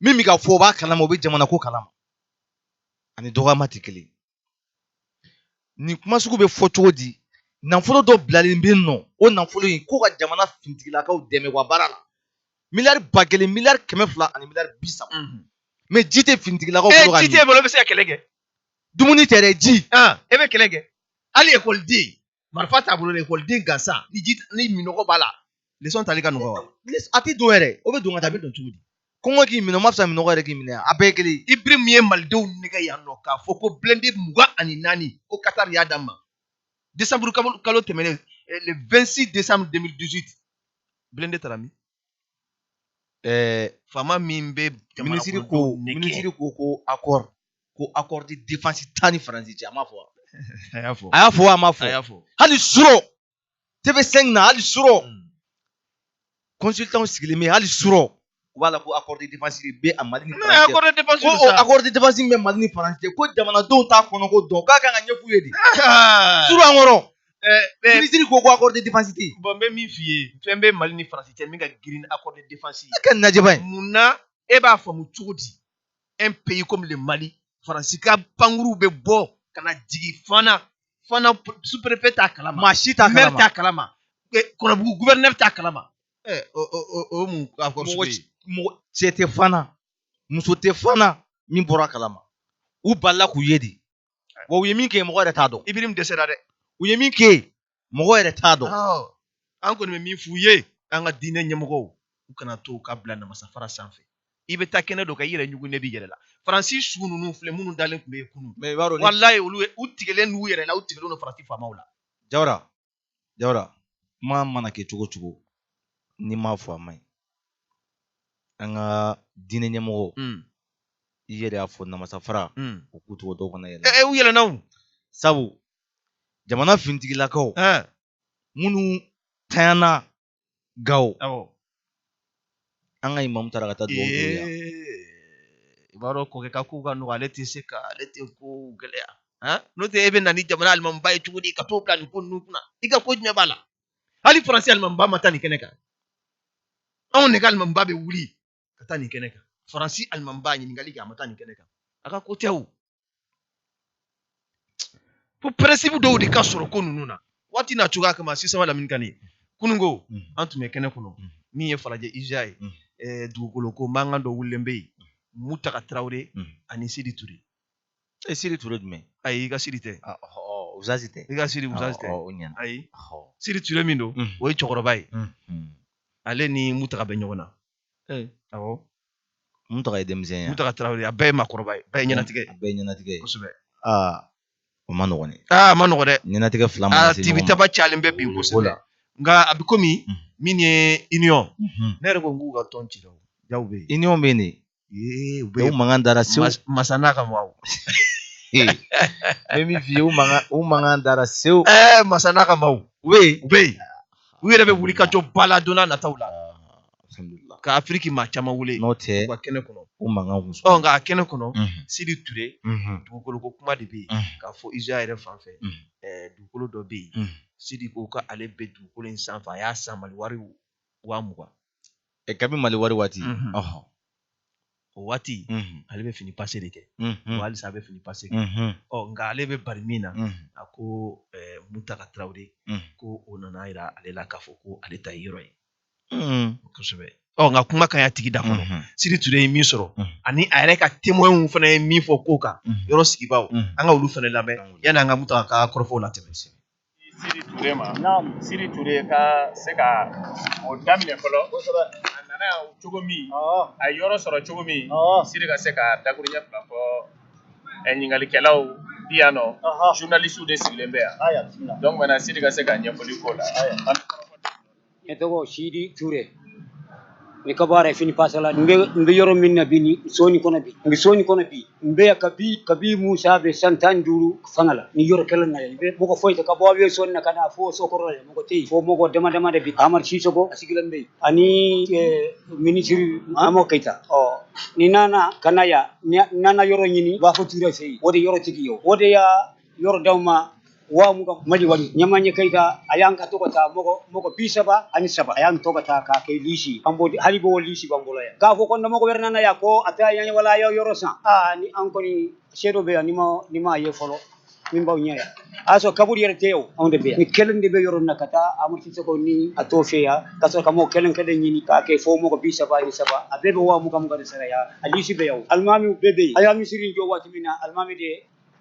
min bɛ ka fɔ o b'a kalama o bɛ jamana ko kalama ani dɔgɔyama tɛ kelen nin kuma sugu bɛ fɔ cogo di nafolo dɔ bilalen bɛ nɔ o nafolo in ko ka jamana fintigilakaw dɛmɛ u ka baara la miliyari ba kelen miliyari kɛmɛ fila ani miliyari bi saba mhm. mais ji tɛ fintigilakaw eh, bolo ka ji tɛ bolo bɛ se ka kɛlɛ kɛ dumuni tɛ dɛ ji e bɛ kɛlɛ kɛ hali ekɔliden marifa t'a bolo dɛ ekɔliden gansan ni ji ni minɔgɔ b'a la lesɔn tali ka nɔgɔ wa a tɛ don yɛrɛ o bɛ don ka taa a bɛ don cogo di kɔngɔ k'i minɛ o ma fisa minɔgɔ yɛrɛ k'i minɛ a bɛɛ ye kelen ibrim ye malidenw nɛgɛn yan nɔ k'a fɔ ko blindé mugan ani naani ko katari y'a d'an ma desanburu kalo tɛmɛnen eh, le 26 décembre 2018 blindé taara min ɛɛ eh, faama min bɛ minisiri ko minisiri ko ko accord ko accord de défense t'an ni faransi cɛ a m'a fɔ wa a y'a fɔ a y'a fɔ a m'a fɔ a y'a fɔ hali suro TV5 na hali suro consultant sigilen bɛ hali suro u b'a la ko accord de défense de bɛ a mali ni faransi cɛ accord de défense ko o accord de défense bɛ mali ni faransi cɛ ko jamanadenw t'a kɔnɔ ko dɔn k'a kan ka ɲɛf'u ye de suro encore minisiri ko ko accord de défense tɛ yen bon n bɛ min f'i ye fɛn bɛ mali ni faransi cɛ min ka girin accord de défense ye a kɛ najɛba ye mun na e b'a faamu cogo di un pays comme le mali faransi ka pankuruw bɛ bɔ ka na jigin fana fana sous-préfet t'a kalama maa si t'a kalama maire t'a kalama kɔnɔbugu gouverneur t'a kalama ɛ o o o mun accord sugu ye mɔgɔ cɛ tɛ fana muso tɛ fana min bɔra a kalama u balila k'u ye de wa u ye min kɛ mɔgɔ yɛrɛ t'a dɔn ibirim dɛsɛra dɛ u ye min kɛ mɔgɔ yɛrɛ t'a dɔn an kɔni bɛ min f'u ye an ka diinɛ ɲɛmɔgɔw u kana to ka bila namasa fara sanfɛ i bɛ taa kɛnɛ dɔ kan i yɛrɛ ɲugunnen b'i yɛrɛ la faransi su ninnu filɛ minnu dalen tun bɛ yen kunun mais i b'a dɔn walayi olu u tigɛlen n'u yɛrɛ la u tigɛlen don faransi faamaw la jawara jawara kuma mana kɛ cogo cogo n'i m'a fɔ a man ɲi an ka diinɛ ɲɛmɔgɔ hmm. i yɛrɛ y'a fɔ namasa fara hmm. u k'u tɔgɔ dɔw kana yɛlɛn eh, eh, u yɛlɛnna sabu jamana finitigilakaw minnu tanyana gawo an ka imamu taara ka taa dugawu k'u ye i b'a dɔn kɔkɛ ka kow ka nɔgɔn ale tɛ se ka ale tɛ ko gɛlɛya n'o tɛ e bɛ na ni jamana alimamiba ye cogo di ka t'o bila nin ko ninnu kunna i ka ko jumɛn b'a la hali faransi alimamiba ma taa nin kɛnɛ kan anw ne ka alimamiba bɛ wuli ka taa nin kɛnɛ kan faransi alimamiba ɲininkali kɛ a ma taa nin kɛnɛ kan a ka ko tɛ o fo principe dɔw de ka sɔrɔ ko ninnu na waati n'a cogoya kama sisan lamini kane kunungo an tun bɛ kɛnɛ kɔnɔ min ye falajɛ ija ye dugukolo ko mankan dɔ wulilen bɛ yen mutaka tarawele ani sidi ture e sidi ture jumɛn ayi i ka sidi tɛ uzazi tɛ i ka sidi uzazi tɛ o ɲɛna ayi sidi ture min don o ye cɛkɔrɔba ye ale ni mutaga bɛ ɲɔgɔn na awɔ mutaga ye denmisɛn ye mutaga tarawele a bɛɛ ye maakɔrɔba ye bɛɛ ye ɲɛnatigɛ a bɛɛ ye ɲɛnatigɛ kosɛbɛ aa o ma nɔgɔn dɛ a ma nɔgɔn dɛ ɲɛnatigɛ fila ma se tibitaba cayalen bɛ bi kosɛbɛ nka a bɛ komi min ye union ne yɛrɛ ko n k'u ka tɔn ci la jaw bɛ yen union bɛ yen de Ee, u bɛ o mankan dara sew mas- masa n'a ka maaw bɛ min f'i ye o mankan o mankan dara sew ɛɛ masa n'a ka maaw u bɛ yen u bɛ yen u yɛrɛ bɛ wuli ka jɔ ba la don n'a nataw la alhamdulilah ka afiriki maa caman wele n'o tɛ u ka kɛnɛ kɔnɔ o mankan kun ɔ nka a kɛnɛ kɔnɔ Mhm, sidi ture mhm, dugukolo ko kuma de bɛ yen mhm, k'a fɔ ija yɛrɛ fan fɛ Mhm. ɛɛ dugukolo dɔ bɛ yen mhm. sidi ko k'ale bɛ dugukolo in sanfɛ a y'a san mali wari waa mugan ɛ kabi mali wari waati Mhm. ɔhɔn o waati Mhm. ale bɛ fini pase de kɛ Mhm. wa halisa a bɛ fini pase kɛ Mhm. ɔ nka ale bɛ bari min na Mhm. a ko eh, mutaka tarawele Mhm. ko o nana a yira ale la k'a fɔ ko ale ta ye yɔrɔ ye Mhm. kosɛbɛ ɔ nka kuma ka ɲi a tigi da kɔnɔ Mhm. sidi ture ye min sɔrɔ Mhm. ani a yɛrɛ ka témoins fana ye min fɔ ko kan Mhm. yɔrɔ sigibaaw Mhm. an ka olu fana lamɛn An ka olu yanni an ka mutaka ka kɔrɔfɔw latɛmɛ Sidi Ture ma, naamu, Sidi Ture ka se ka o daminɛ fɔlɔ, kosɛbɛ, a nana yan cogo min, ɔɔ, a ye yɔrɔ sɔrɔ cogo min, ɔɔ, Sidi ka se ka dakuruɲɛ fila fɔ ɛ ɲininkalikɛlaw bi yan nɔ, ɔhɔ, journalistes de sigilen bɛ yan, aya, bisimila, donc maintenant Sidi ka se ka ɲɛfɔli k'o la, aya. ne tɔgɔ sidi ture ne ka baara ye fini pasala n bɛ yɔrɔ min na bi ni soni kɔnɔ bi n bɛ soni kɔnɔ bi n bɛ yan kabi kabi musa bɛ san tan duuru fanga la ni yɔrɔ kelen na yan mɔgɔ foyi tɛ ka bɔ aviation na ka na fo sokɔrɔ la mɔgɔ tɛ yen fo mɔgɔ dama dama de bi amadu sisoko a sigilen bɛ yen ani minisiri ama keyita ɔ ni nana ka na yan nana yɔrɔ ɲini bafo ture fɛ yen o de yɔrɔ tigi ye o de y'a yɔrɔ d'aw ma wa mugan mali wari ɲɛmajɛ keyita a y'an ka to ka taa mɔgɔ mɔgɔ bi saba ani saba a y'an to ka taa k'a kɛ lisi an b'o hali b'o lisi b'an bolo yan k'a fɔ ko ni mɔgɔ wɛrɛ nana yan ko a tɛ yan wala a y'a yɔrɔ san aa ni an kɔni se dɔ bɛ yan ni ma ni ma ye fɔlɔ min b'aw ɲɛ yan a y'a sɔrɔ kaburu yɛrɛ tɛ yan anw de bɛ yan ni kelen de bɛ yɔrɔ min na ka taa amadu sisoko ni a t'o fɛ yan ka sɔrɔ ka mɔgɔ kelen kelen ɲini k'a kɛ fo mɔgɔ bi saba ani saba a bɛɛ bɛ wa mugan mugan de sara yan a lisi bɛ yan alimamiw bɛɛ bɛ yen a y'a misiri jɔ waati min na alimami de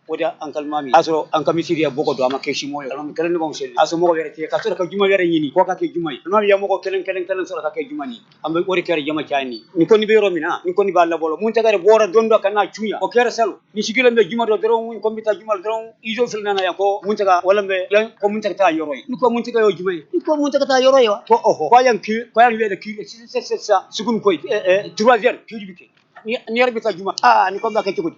o de an ka alimami a sɔrɔ an ka misiri ya bɔgɔ don a ma kɛ siman ye alimami kelen de b'an seli a sɔrɔ mɔgɔ wɛrɛ tɛ ka sɔrɔ ka juma wɛrɛ ɲini k'o ka kɛ juma ye alimami ya mɔgɔ kelen kelen kelen sɔrɔ ka kɛ juma ni an bɛ o de kɛra jama caya ni ni kɔni bɛ yɔrɔ min na ni kɔni b'a la bolo muntaga de bɔra don dɔ ka na cun yan o kɛra salon ni sigilen bɛ juma don dɔrɔn n ko n bɛ taa juma dɔrɔn izo fila nana yan ko muntaga wala bɛ yan ko muntaga ta yɔrɔ ye ni ko muntaga ye jumɛn ye ni ko muntaga ta yɔrɔ ye wa ko ɔhɔ ko yan ki ko yan wede ki se se se sugun koy e e trois heures ki bi kɛ ni ni yɛrɛ bɛ taa juma ah ni ko n b'a kɛ cogo di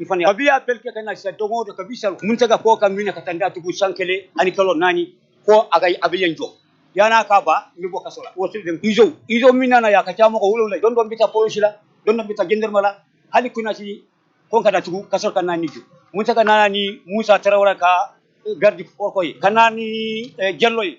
i fana a bi appel kɛ ka na sisan don o don kabi salon muntaga ko ka n minɛ ka taa n datugu san kelen ani kalo naani ko a ka a bɛ yan jɔ yan'a ka ban n bɛ bɔ kaso la waati de izo izo min nana yan a ka ca mɔgɔ wolonwula don dɔ n bɛ taa polosi la don dɔ n bɛ taa gendarme la hali kunasini ko ka n datugu kaso la ka na ni jɔ muntaga nana ni musa tarawele ka garde du corps ye ka na ni jalo ye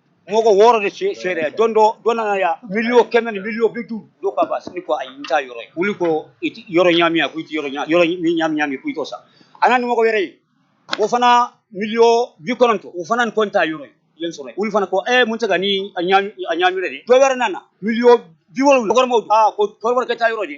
mɔgɔ wɔɔrɔ de se seere don dɔ dɔ nana yan miliyɔn kɛmɛ ni miliyɔn bi duuru dɔ k'a b'a san ne ko ayi n ta yɔrɔ ye wuli ko i ti yɔrɔ ɲami a ko i ti yɔrɔ ɲami yɔrɔ ni ɲami ɲami ko i t'o san a nana ni mɔgɔ wɛrɛ ye o fana miliyɔn bi kɔnɔntɔn o fana ni ko n ta yɔrɔ ye yen sɔrɔ ye wuli fana ko ɛ muntaga ni a ɲami a ɲami yɛrɛ de dɔ wɛrɛ nana miliyɔn bi wolonwula kɔrɔmaw aa ko kɔrɔbɔrɔ kɛ ta yɔrɔ de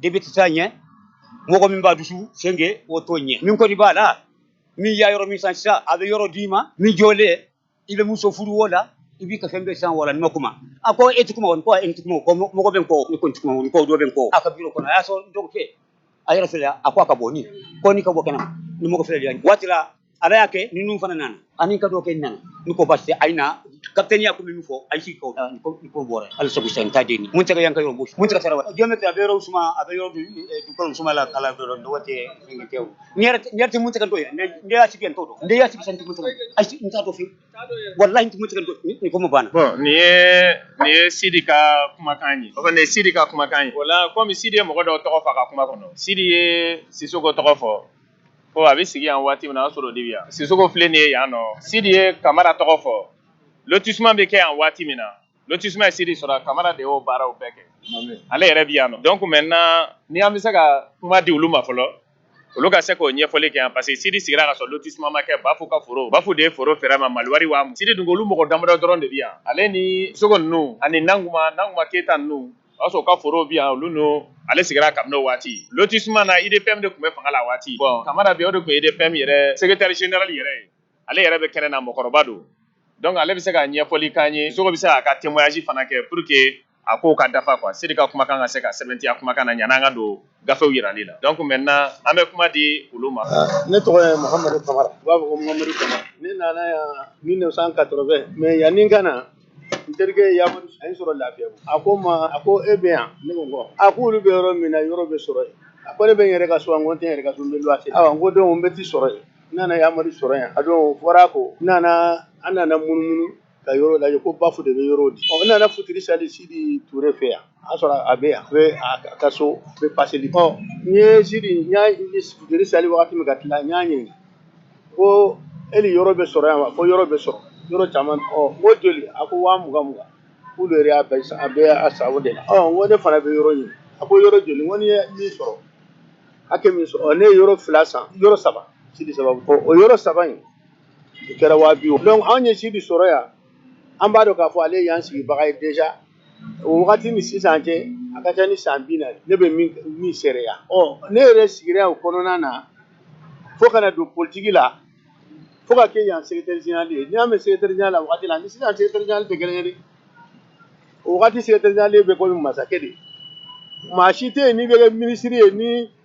depite t'a ɲɛ mɔgɔ min b'a dusu sɛnke o t'o ɲɛ min kɔni b'a la min y'a yɔrɔ min san sisan a bɛ yɔrɔ d'i ma min jɔlen i bɛ muso furu o la i b'i ka fɛn bɛɛ san wala ni ma kuma a ko e tɛ kuma wa ni ko e tɛ kuma mɔgɔ bɛ n kɔ e kɔni tɛ kuma ko dɔ bɛ n kɔ a ka biro kɔnɔ a y'a sɔrɔ n dɔgɔkɛ a yɛrɛ fɛ a ko a ka bɔ ni kɔni ka bɔ ka na ni mɔgɔ filɛ waati ala y'a kɛ ni ninnu fana nana ani ka dɔ kɛ nana ni ko basi tɛ a na kapitɛni y'a ko min fɔ a si ko ko bɔra hali sabu san ta den muntaga yan ka yɔrɔ muntaga tarawele géomètre a bɛ yɔrɔ suma a bɛ yɔrɔ dukɔnɔ suma la kala dɔrɔn dɔgɔ tɛ fɛn tɛ n yɛrɛ tɛ muntaga dɔn ne y'a sigi tɔ dɔn ne y'a sigi san muntaga ayi n t'a dɔn fewu walayi n tɛ muntaga dɔn ni kuma banna bon nin ye nin ye sidi ka kumakan ye o kɔni ye sidi ka kumakan ye voilà komi sidi ye mɔgɔ dɔw tɔgɔ fɔ a ka kuma kɔnɔ sidi ye sisoko tɔgɔ fɔ ko a bɛ sigi yan waati min na a sɔrɔ de bɛ yan sisoko filɛ nin ye yan nɔ sidi ye kamara tɔgɔ fɔ lotissement bɛ kɛ yan waati min na lotissement ye sidi sɔrɔ kamara de y'o baaraw bɛɛ kɛ ale yɛrɛ bɛ yan nɔ donc maintenant ni an bɛ se ka kuma di olu ma fɔlɔ olu ka se k'o ɲɛfɔli kɛ yan parce que sidi sigira ka sɔrɔ lotissement ma kɛ bafu ka foro bafu de ye foro feere ma maliwari wa sidi dun olu mɔgɔ damadɔ dɔrɔn de bɛ yan ale ni sogo ninnu ani nankuma nankuma keyita ninnu o y'a sɔrɔ ka foro bi yan olu n'o ale sigira kabini o waati lotissement na UDPM de tun bɛ fanga la a waati bon Kamara bi o de tun ye UDPM yɛrɛ secrétaire général yɛrɛ ye ale yɛrɛ bɛ kɛnɛ na mɔgɔkɔrɔba don donc ale bɛ se ka ɲɛfɔli k'an ye Sogo bɛ se k'a ka témoignage fana kɛ pour que a kow ka dafa quoi Sidi ka kumakan ka se ka sɛbɛntiya kumakan na ɲan'an ka don gafew yirali la donc maintenant an bɛ kuma di olu ma ne tɔgɔ ye mahamadu kamara u b'a fɔ ko mahamadu kamara ne nana yan 1980 mais yanni n ka na n terikɛ yamadu a ye n sɔrɔ lafiyabugu a ko n ma a ko e bɛ yan ne ko ko a ko olu bɛ yɔrɔ min na yɔrɔ bɛ sɔrɔ yen a ko ne bɛ n yɛrɛ ka so wa n ko n tɛ n yɛrɛ ka so n bɛ luwase awa n ko donc n bɛ t'i sɔrɔ yen n nana yamadu sɔrɔ yan a don o fɔra ko n nana an nana munumunu ka yɔrɔ lajɛ ko bafu de bɛ yɔrɔ di ɔ n nana futiri sali sidi ture fɛ yan a sɔrɔ a bɛ yan a bɛ a ka so a bɛ paseli ɔ n ye sidi n y'a futiri sali wagati min ka tila n y'a ɲininka ko yali yɔrɔ bɛ sɔrɔ yan wa ko yɔrɔ bɛ sɔrɔ yɔrɔ caman ɔ n ko joli a ko waa mugan mugan k'olu yɛrɛ y'a bɛɛ san a bɛɛ a sago de la ɔ n ko ne fana bɛ yɔrɔ ɲini a ko yɔrɔ joli n ko n'i ye min sɔrɔ hakɛ min sɔrɔ ɔ ne ye yɔrɔ fila san yɔrɔ saba sidi sababu ɔ o yɔrɔ saba in u kɛra waa bi wɔɔrɔ donc anw ye sidi sɔrɔ yan an b'a dɔn k'a fɔ ale y'an sigibaga ye déjà o wagati ni sisan cɛ a ka ca ni san bi naani ne bɛ min seereya ɔ ne yɛrɛ sigira o kɔnɔna na fo ka na don politiki la fo ka kɛ yan secrétaire général ye n'i y'a mɛn secrétaire général la wagati la ni sisan secrétaire général tɛ kelen ye dɛ o wagati secrétaire général bɛ komi masakɛ de maa si tɛ yen n'i bɛ kɛ minisiri ye ni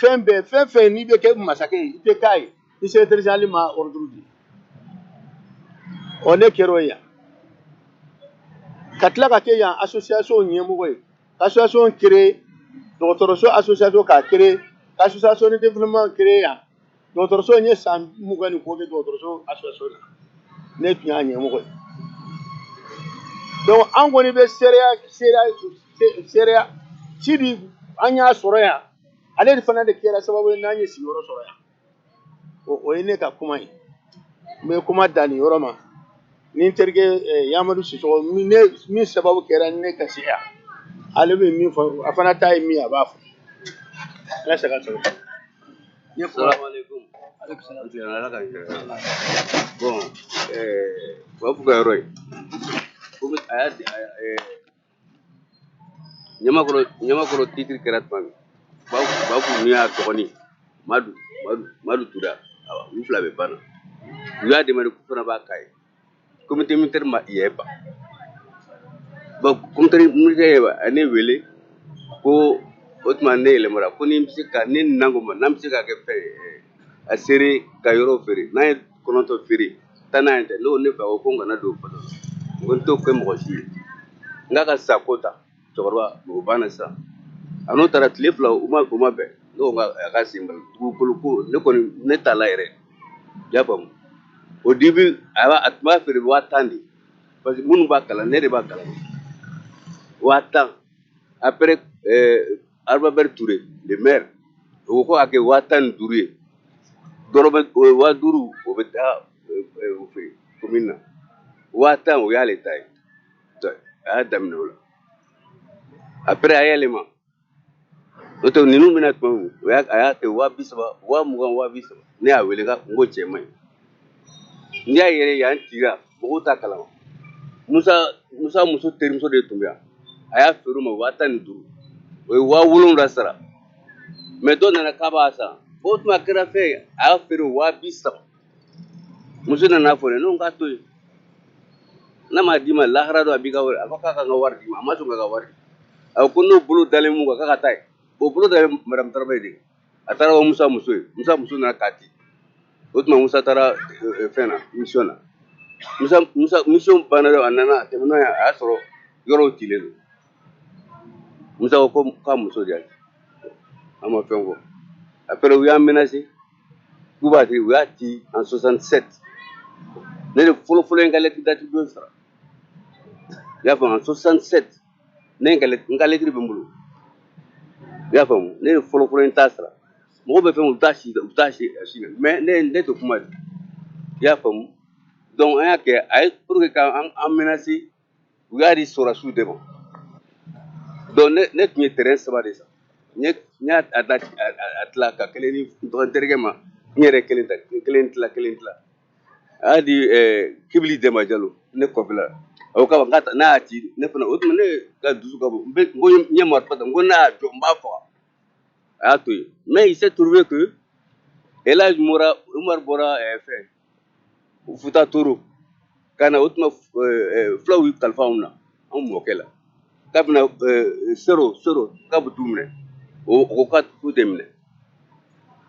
fɛn bɛɛ fɛn fɛn n'i bɛ kɛ masakɛ ye i tɛ k'a ye ni secrétaire général ma ɔrɔduru di ɔ ne kɛra o ye yan ka tila ka kɛ yan asosiyasiɔn ɲɛmɔgɔ ye ka asosiyasiɔn kere dɔgɔtɔrɔso asosiyasiɔn k'a kere ka asosiyasiɔn de développement kere yan dɔgɔtɔrɔso in ye san mugan ni kɔ kɛ dɔgɔtɔrɔso association na ne tun y'a ɲɛmɔgɔ ye donc an kɔni bɛ seereya seereya seereya sidi an y'a sɔrɔ yan ale de fana de kɛra sababu ye n'an ye sigiyɔrɔ sɔrɔ yan o o ye ne ka kuma ye n bɛ kuma dan nin yɔrɔ ma ni n terikɛ eh, yamadu sisɔkɔ min ne- min sababu kɛra ne ka se yan ale bɛ min fɔ a fana ta ye min ye a b'a fɔ ala saga sago asalamu aleyikum aleyikum salamu ala k'an bon waa fuga yɔrɔ ye comme a y'a di ɲamakɔrɔ ɲamakɔrɔ titiri kɛra tuma min ba ba kun n'u y'a dɔgɔnin madu madu madu tura awa u fila bɛɛ banna u y'a demande k'u fana b'a k'a ye comité militaire ma yɛɛba donc comité militaire yɛɛba a ye ne wele ko o tuma ne yɛlɛmara ko ni n bɛ se ka ne nan ko ma n'an bɛ se ka kɛ fɛn ye a seere ka yɔrɔ feere n'an ye kɔnɔntɔn feere tannan y'e ta n ko ne fa ko ko n kana don o kɔnɔ n ko n t'o kɛ mɔgɔ si ye n k'a ka sako ta cɛkɔrɔba o banna sisan a n'o taara tile fila u ma u ma bɛn ne ko nka a ka sen bali dugukolo ko ne kɔni ne t'a la yɛrɛ i y'a faamu au début a b'a a tun b'a feere waa tan de parce que minnu b'a kalan ne de b'a kalan waa tan après euh, Albert Touré le maire o ko ko a kɛ waa tan ni duuru ye dɔrɔmɛ o ye waa duuru o bɛ taa euh, euh, o fɛ commune na waa tan o y'ale ta ye a y'a daminɛ o la après a yɛlɛma o to ninnu bɛ na tuma min o y'a a y'a kɛ waa bi saba waa mugan waa bi saba ne y'a wele ka n ko cɛ man ɲi n'i y'a yɛrɛ yan cira mɔgɔw t'a kalama musa musa muso terimuso de tun bɛ yan a y'a feere u ma waa tan ni duuru o ye waa wolonwula sara mais dɔ nana k'a b'a san o tuma kɛra fɛn ye a y'a feere waa bi saba muso nana fɔ ne k'a to yen n'a m'a d'i ma lahara don a b'i ka wari a ko k'a ka n ka wari d'i ma a ma sɔn ka ka wari a ko n'o bolo dalen mun kan k'a ka taa ye o bolo dalen madamu taraba ye de a taara ko musa muso ye musa muso nana k'a ci o tuma musa taara eh, eh, fɛn na mission na musa musa mission banna dɔrɔn a nana a tɛmɛna yan a y'a sɔrɔ yɔrɔw cilen don musa ko ko- k'a muso de y'a ci an ma fɛn fɔ après u y'an menase k'u b'a ci u y'a ci en 67 ne de fɔlɔfɔlɔ ye n ka lɛtiri d'attribution sara i y'a faamu en 67 ne ye n ka lɛt- n ka lɛtiri bɛ n bolo i y'a faamu ne de fɔlɔfɔlɔ ye n ta sara mɔgɔw bɛ fɛn u t'a si u t'a si a si la mais ne ne tɛ kuma de i y'a faamu donc an y'a kɛ a ye pour que k'an an menase u y'a di sɔrɔdasiw de ma donc ne ne tun ye terrain saba de san n ye n y'a a da a a- a tila ka kelen di n dɔgɔ n terikɛ ma n yɛrɛ kelen ta kelen tila kelen tila a y'a di ɛɛ kibili dɛnba jalo ne kɔfɛla a ko k'a ma k'a ta n'a y'a ci ne fana o tuma ne ka dusu ka bon n bɛ n ko n ye marifa ta n ko n'a y'a jɔ n b'a faga a y'a to yen mais il s'est trouvé que Elhaj Mora Umar bɔra ɛɛ fɛn futa toro ka na o tuma fulaw y'u kalifa anw na anw mɔkɛ la k'a bɛna sero sero k'a bɛ t'u minɛ o ko k'a tɛ minɛ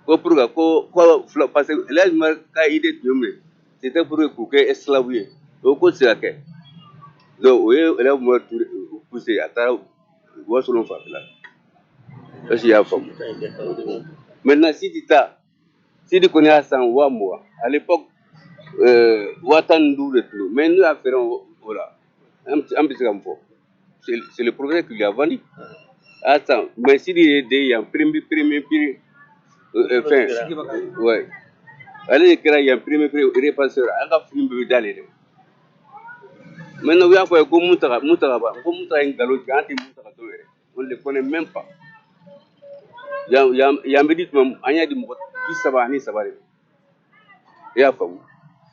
ko pour que ko ko fula parce que el hadj Umar ka idée tun ye mun ye c'était pour que k'u kɛ esclave ye o ko tɛ se ka kɛ donc o ye el hadj Umar poussé a taara wasolon fanfɛla est ce que i y'a faamu maintenant Sidi ta Sidi kɔni y'a san waa mugan ale pa waa tan ni duuru de tulo mɛ n'u y'a fɛ o o la an bɛ an bɛ se ka fɔ seliporoɛre tun yabali a san mɛ sidi ye den yan perepe pereme peere fɛn ale de kɛra yan pereme peere pase an ka fini bɛ da de mɛ n' y'a fɔ ye ko mu mu ta in nkalonlo jan tɛ mu ta dɔw yɛrɛ on ne le connaît même pas. Yan yan yan bɛ di tuma min, an y'a di mɔgɔ bi saba ani saba de ma. I y'a faamu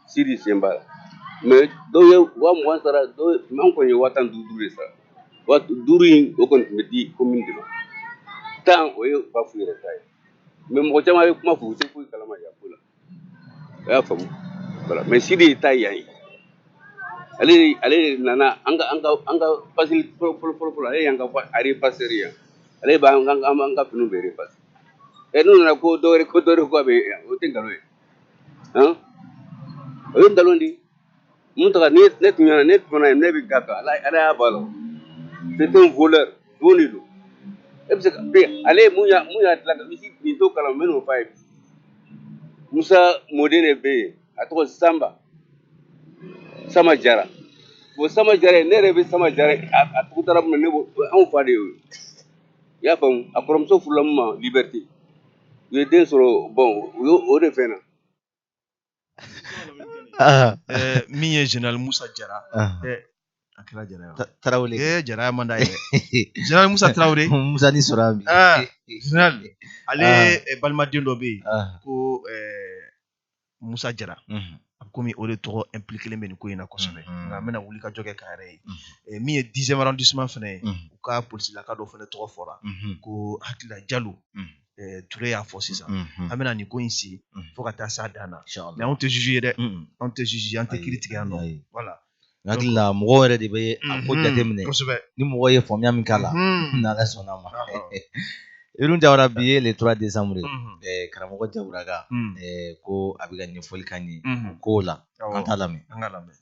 Sidi sen b'a la mais dɔw ye waa mugan sara dɔw ye mais an kɔni ye waa tan ni duuru duuru de sara waa duuru in o kɔni tun bɛ di commune de ma tan o ye Bafu yɛrɛ ta ye mais mɔgɔ caman bɛ kuma f'u tɛ foyi kalama yan ko la. i y'a faamu voilà mais Sidi ye ta yan ye ale de- ale de nana an ka an ka an ka pasili fɔlɔ fɔlɔ fɔlɔ fɔlɔ ale y'an ka fa- a repasseur yan ale b'an ka an b'an ka finiw bɛɛ repasser ɛ n'u nana ko dɔwɛrɛ ko dɔwɛrɛ ko a bɛ yan o tɛ nkalon ye han o ye nkalon de ye Mutaga ne ne tun ne tun ye ne bɛ ga kan ala ala y'a ba la c'était un voleur don de don e bɛ se ka ale ye mun y'a mun y'a dilan ka misi nin to kalan minnu fa ye musa mɔden de bɛ yen a tɔgɔ sanba sama jara bon sama jara ye ne yɛrɛ bɛ sama jara ye, a a tɔgɔ dara mun na ne b'o o anw fa de ye o ye. i y'a faamu a kɔrɔmuso furula mun ma Liberté u ye den sɔrɔ bon u y'o o de fɛn na min ye general musa jara a kɛra jara ye tarawele ee jara ye manda ye general musa tarawele musa ni sɔrɔ bi general ale balimaden dɔ bɛ yen ko musa jara komi o de tɔgɔ impliquélen bɛ nin ko in na kosɛbɛ nka an bɛna wuli ka jɔ kɛ k'a yɛrɛ ye min ye dixième arrondissement fana ye u ka polisilaka dɔ fana tɔgɔ fɔra ko hakilila jalo eh, Ture y'a fɔ sisan an bɛna nin ko in sigi fo ka taa s'a dan na mais anw tɛ juge ye dɛ anw tɛ juge ye an tɛ kiri tigɛ yan non voilà n hakili la mɔgɔ yɛrɛ de bɛ a ko jateminɛ ni mɔgɔ ye faamuya min k'a la n'ala sɔnna a ma Irun Jawara bi ye le 3 décembre eh, karamɔgɔ Jawuraga eh, ko a bɛ ka ɲɛfɔli k'an ye o kow la an t'a lamɛn an ka lamɛn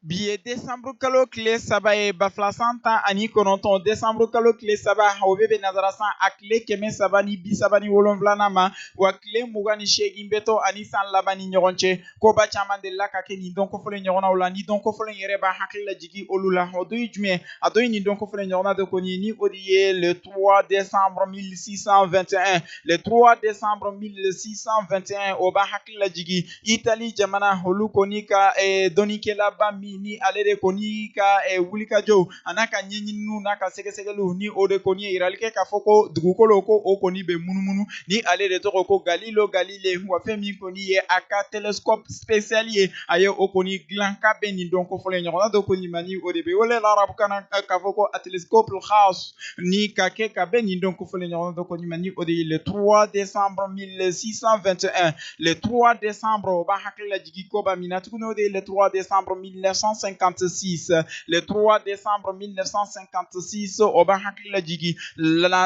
Bi ye desanburu kalo tile saba ye ba fila san tan ani kɔnɔntɔn desanburu kalo tile saba o bɛ bɛn nazarasan a tile kɛmɛ saba ni bi saba ni wolonwulana ma wa tile mugan ni seegin bɛ to ani san laban ni ɲɔgɔn cɛ koba caman delila ka kɛ nin don kofɔlen ɲɔgɔnnaw la ni don kofɔlen yɛrɛ b'a hakili lajigin olu la o dɔ ye jumɛn a dɔ ye nin don kofɔlen ɲɔgɔnna dɔ kɔni ni o de ye le 3 décembre 1621 le 3 décembre 1621 o b'a hakili lajigin itali jamana olu kɔni ka eh, dɔnnikɛlaba min ni ale de kɔni ka eh, wulikajɔw an'a ka ɲɛɲininiw n'a ka sɛgɛsɛgɛliw ni o de kɔni ye yirali kɛ k'a fɔ ko dugukolo ko o kɔni bɛ munumunu ni ale de tɔgɔ ko Galileo Galilei wa fɛn min kɔni ye a ka telescope spécial ye a ye o kɔni dilan ka bɛn nin don kofɔlen ɲɔgɔnna dɔ kɔni ma ni o de bɛ wele larabukan na k'a fɔ ko a telescope khas ni ka kɛ ka bɛn nin don kofɔlen ɲɔgɔnna dɔ kɔni ma ni o de ye le 3 décembre 1621 le 3 décembre o b'a hakili lajigi koba min na tuguni o de ye le 3 décembre 1956 le 3 décembre 1956 o b'a hakili lajigi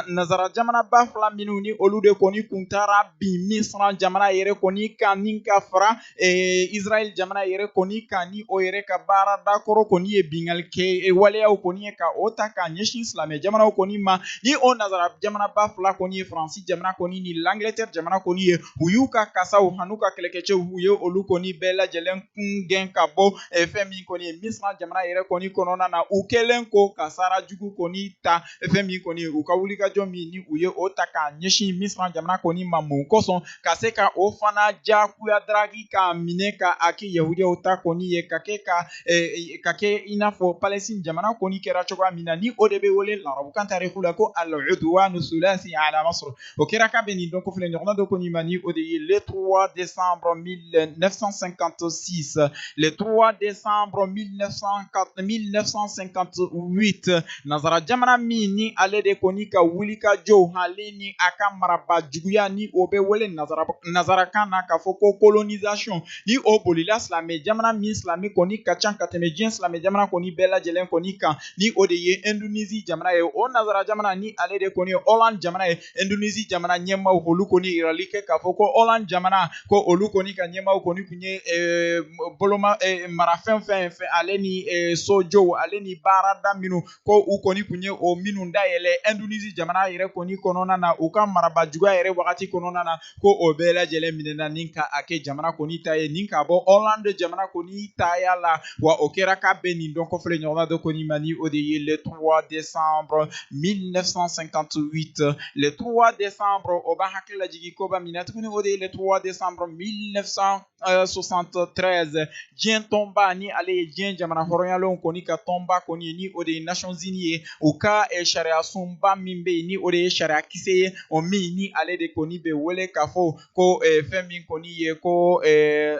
nazara jamana ba fila minnu ni olu de kɔni kun taara bin misra jamana yɛrɛ kɔni kan ni ka fara eh, israel jamana yɛrɛ kɔni kan ni o yɛrɛ ka baara dakɔrɔ kɔni ye binkanni kɛ eh, waleyaw kɔni ye ka o ta k'a ɲɛsin silamɛ jamanaw kɔni ma ni o nazara jamana ba fila kɔni ye faransi Faransi jamana kɔni ni L'Angleterre jamana kɔni ye u y'u ka kasaw an'u ka kɛlɛkɛcɛw u ye olu kɔni bɛɛ lajɛlen kun gɛn ka bɔ eh, fɛn min kɔni ye Misra jamana yɛrɛ kɔni kɔnɔna na u kɛlen kɔ ka sara jugu kɔni ta eh, fɛn min kɔni ye u ka wulikajɔ min ni u ye o ta k'a ɲɛsin Misra jamana kɔni ma mun kosɔn ka se ka o fana jakuya daraki k'a minɛ ka a kɛ Yahudiyaw ta kɔni ye ka kɛ ka ka kɛ i n'a fɔ Palestine jamana kɔni kɛra cogoya min na ni o de bɛ wele larabukan tariku la ko al-udwanu sulasi ala Masr o kɛra ka bɛn nin don kofɔlen ɲɔgɔnna dɔ kɔni ma ni o de ye le trois décembre 1956 le trois décembre 1958 nazara jamana min ni ale de kɔni ka wulikajɔw ale ni a ka maraba juguya ni o bɛ wele nazarakan na k'a fɔ ko colonisation ni o bolila silamɛ jamana min silamɛ kɔni ka ca ka tɛmɛ diɲɛ silamɛ jamana kɔni bɛɛ lajɛlen kɔni kan ni o de ye indonisi jamana ye o nazara jamana ni ale de kɔni ye Hollande jamana ye indonisi jamana ɲɛmaaw olu kɔni yirali kɛ k'a fɔ ko Hollande jamana ko olu kɔni ka ɲɛmaaw kɔni tun ye eh, boloma eh, marafɛn fɛn fɛn ale ni eh, sojow ale ni baarada minnu ko u kɔni tun ye o minnu dayɛlɛ Indonésie jamana yɛrɛ kɔni kɔnɔna na u ka marabaa juguya yɛrɛ wagati kɔnɔna na ko o bɛɛ lajɛlen minɛna ni ka a kɛ jamana kɔni ta ye ni ka bɔ Hollande jamana kɔni taya la wa o kɛra ka bɛn nin don kofɔlen ɲɔgɔnna dɔ kɔni ma ni o de ye le 3 décembre 1958 le 3 décembre o b'an hakili lajigin koba min na tuguni o de ye le 3 décembre 1900 73 diɲɛ tɔnba ni ale ye diɲɛ jamana hɔrɔnyalenw kɔni ka tɔnba kɔni ye ni o de ye nations unies ye u ka eh, sariya sunba min bɛ yen ni o de ye sariya kisɛ ye o min ni ale de kɔni bɛ wele k'a fɔ ko eh, fɛn min kɔni ye ko eh,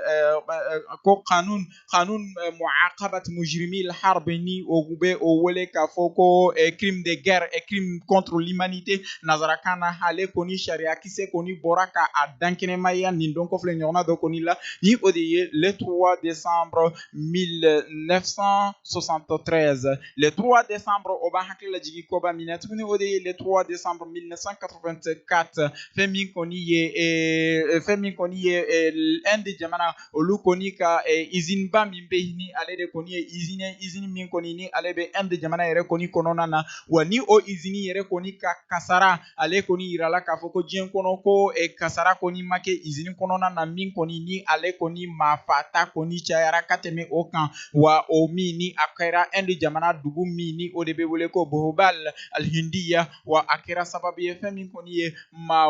ko kanun kanun mu'aqabat mujrimil harb ni o bɛ o wele k'a fɔ ko crime de guerre et crime contre l'humanité nazarakan na ale kɔni sariya kisɛ kɔni bɔra ka a dankɛnɛmaya nin don kofɔlen ɲɔgɔnna dɔ kɔni la ni o de ye le 3 décembre 1973 le 3 décembre o b'an hakili lajigin koba min na tuguni o de ye le 3 décembre 1984 fɛn min kɔni ye fɛn min kɔni ye Inde jamana olu kɔni ka eh, izini ba min bɛ ni ale de kɔni ye izini ye izini min kɔni ni ale bɛ Inde jamana yɛrɛ kɔni kɔnɔna na wa ni o izini yɛrɛ kɔni ka kasara ale kɔni yirala k'a fɔ ko diɲɛ kɔnɔ ko eh, kasara kɔni ma kɛ izini kɔnɔna na min kɔni ni ale kɔni maa faata kɔni cayara ka tɛmɛ o kan wa o min ni a kɛra Inde jamana dugu min ni o de bɛ wele ko Bhopal alhindiya wa a kɛra sababu ye fɛn min kɔni ye maa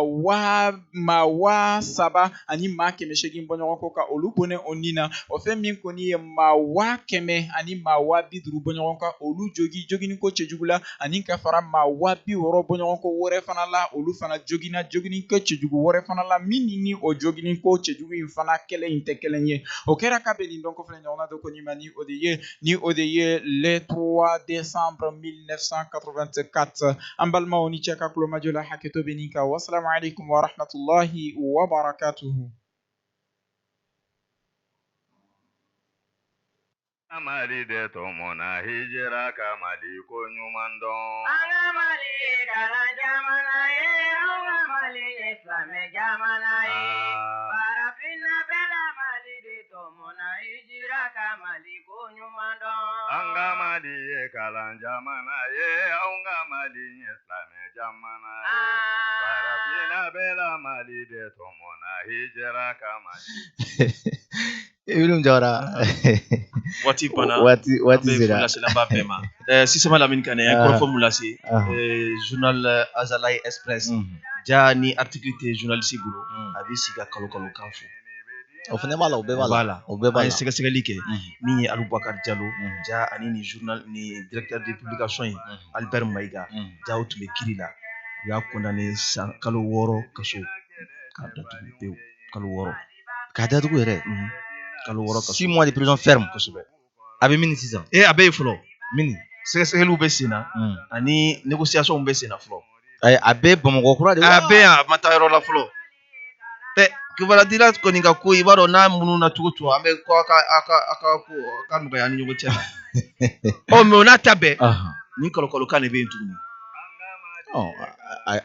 waa saba ani maa kɛmɛ seegin bɔɲɔgɔn ko ka olu bɔnɛ o ni na o fɛn min kɔni ye maa waa kɛmɛ ani maa waa bi duuru bɔɲɔgɔn ka olu jogi jogini ko cɛjugu la ani ka fara maa waa bi wɔɔrɔ bɔɲɔgɔn ko wɛrɛ fana la olu fana jogina jogini ko cɛjugu wɛrɛ fana la min ni ni o jogini ko cɛjugu in fana kelen in tɛ kelen ye o kɛra ka bɛn nin don kofɔlen ɲɔgɔnna dɔ kɔni ma ni O de ye le 3 décembre 1984 an balimaw aw ni ce aw ka kulomajɔ la hakɛto bɛ nin kan wasalamu alaikum wa rahmatullahi wa barakatuhu Mali de tɔmɔna i jija ka Mali ko ɲuman dɔn. An ka Mali ye kalan jamana ye, an ka Mali ye silamɛ jamana ye. Aa. Farafinna bɛɛ la Mali de Mɔna i jija ka mali ko ɲuman dɔn an ka mali ye kalan jamana ye an ka mali ye silamɛ jamana ye farafinna bɛɛ la mali de tɔmɔna i jija ka mali i jɔra waati kɔnɔ waati waati lasilaba bɛɛ ma sisama lamini ka kɔrɔfɔ lase journal Azalaï Express jaa ni article tɛ journaliste bolo a bɛ sigi ka kalon kalon kan fɔ O fana b'a la o bɛɛ b'a la o bɛɛ b'a la an ye sɛgɛsɛgɛli kɛ min ye aliyu bubakari jalo ja ani nin directeur de publication albert mayiga ja o tun bɛ kiri la u y'a condamné san kalo wɔɔrɔ kaso k'a da kalo wɔɔrɔ k'a datugu yɛrɛ kalo wɔɔrɔ six mois de prison ferme kosɛbɛ a bɛ mini sisan ee a bɛ yen fɔlɔ mini sɛgɛsɛgɛliw bɛ sen na hmm. ani négociations bɛ sen na fɔlɔ ayi a bɛ bamakɔ kura de a bɛ yan a ma taa yɔrɔ la fɔlɔ ɛ kibarudila kɔni ka ko i b'a dɔn n'a mununa cogo o cogo an bɛ ko a ka a ka a ka ko a ka nɔgɔya an ni ɲɔgɔn cɛ ɔ mɛ o n'a ta bɛɛ nin kɔlɔkɔlɔkan de bɛ yen tuguni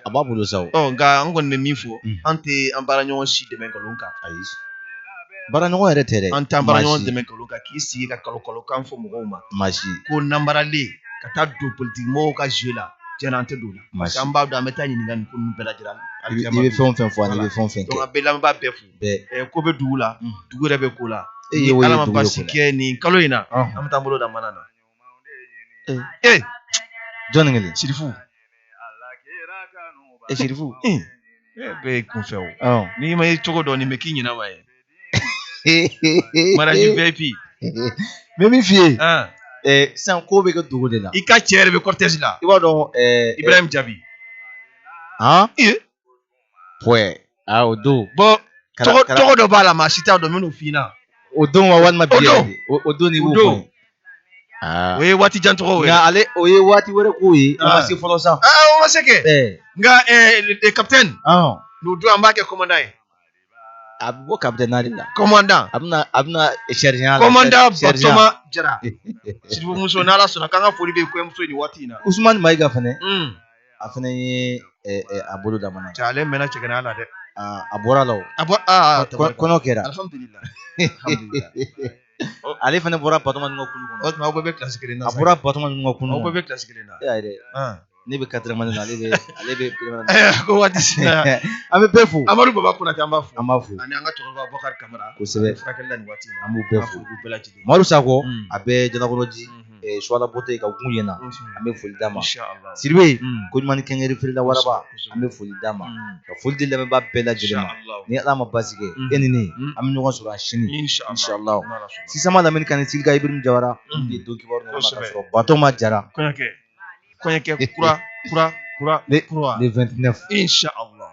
a b'a bolo sa nka an kɔni bɛ min fɔ an tɛ an baara ɲɔgɔn si dɛmɛ nkalon kan ayi baara ɲɔgɔn yɛrɛ tɛ dɛ an t'an baara ɲɔgɔn dɛmɛ nkalon kan k'i sigi ka kalokalokan fɔ mɔgɔw ma maa si ko nanbaralen ka taa don politiki mɔgɔw ka jeu la an tɛ don o la an b'a dɔn an bɛ taa ɲininka nin ko bɛɛ lajɛlen i bɛ fɛn o fɛn fɔ i bɛ fɛn o fɛn kɛ an bɛ lamɛnbaa bɛɛ fo ko bɛ dugu la dugu yɛrɛ bɛ ko la ni ala ma basi kɛ nin kalo in na an bɛ taa bolo da mana na ee ee jɔnni kelen sirifu ee sirifu ee ee bɛɛ ye kunfɛ o ɔ n'i ma yen cogo dɔn nin bɛ k'i ɲinɛ wa ye mariage vip mɛ min f'i ye ah, ee sisan ko bɛ kɛ dogo de la i ka cɛ yɛrɛ bɛ cortège la i b'a dɔn ɛɛ ibrahim jabi han ee pɔɛ aa o don bɔn tɔgɔ dɔ b'a la maa si t'a dɔn minnu f'i ɲɛna o don wa walima bi O don. yɛrɛ de? o o don de O b'o don. fɔ aa o ye waati jan tɔgɔ ye nka ale o ye waati wɛrɛ ko ye o ma Ah. se fɔlɔ sa aa o ma se kɛ ɛɛ nka ɛɛ kapitɛni n'o don an b'a kɛ kɔmandan ye a bɛ bɔ kapitɛni na de la kɔmandan a bɛna a bɛna sergent la kɔmandan sergent. batoma jara sirifu muso n'ala sɔnna k'an ka foli bɛ kɔɲɔmuso ye nin waati in na usumani mayiga fɛnɛ un a fana ye a bolo da mana na cɛ ale mɛnna cɛgana la dɛ a bɔra a la kɔɲɔ kɛra ale fana bɔra batoma ninnu ka kulu kɔnɔ o tuma aw bɛ kilasi kelen na a bɔra batoma ninnu ka kulu aw bɛ kilasi kelen na dɛ ne bɛ quatrième année ale bɛ ale bɛ ko waati sera an bɛ bɛɛ fo amadu baba konate an b'a fo an b'a fo ani an ka cɛkɔrɔba bakari kamara kosɛbɛ furakɛli la nin waati in na an b'u bɛɛ fo bɛɛ lajɛlen madu sakɔ a bɛ jalakɔrɔji eh, suwala bote ka gun yen na an bɛ foli d'a ma siribe ko ɲuman ni kɛnkayeri feerela waraba an bɛ foli d'a ma ka foli di lamɛnbaa bɛɛ lajɛlen ma ni ala ma basi kɛ e ni ne an bɛ ɲɔgɔn sɔrɔ a sini inshallah sisan malamini kane silika ibirim jawara n ye don kibaru ka sɔrɔ batoma jara kɔɲɔkɛ kura kura kura le 29 inshallah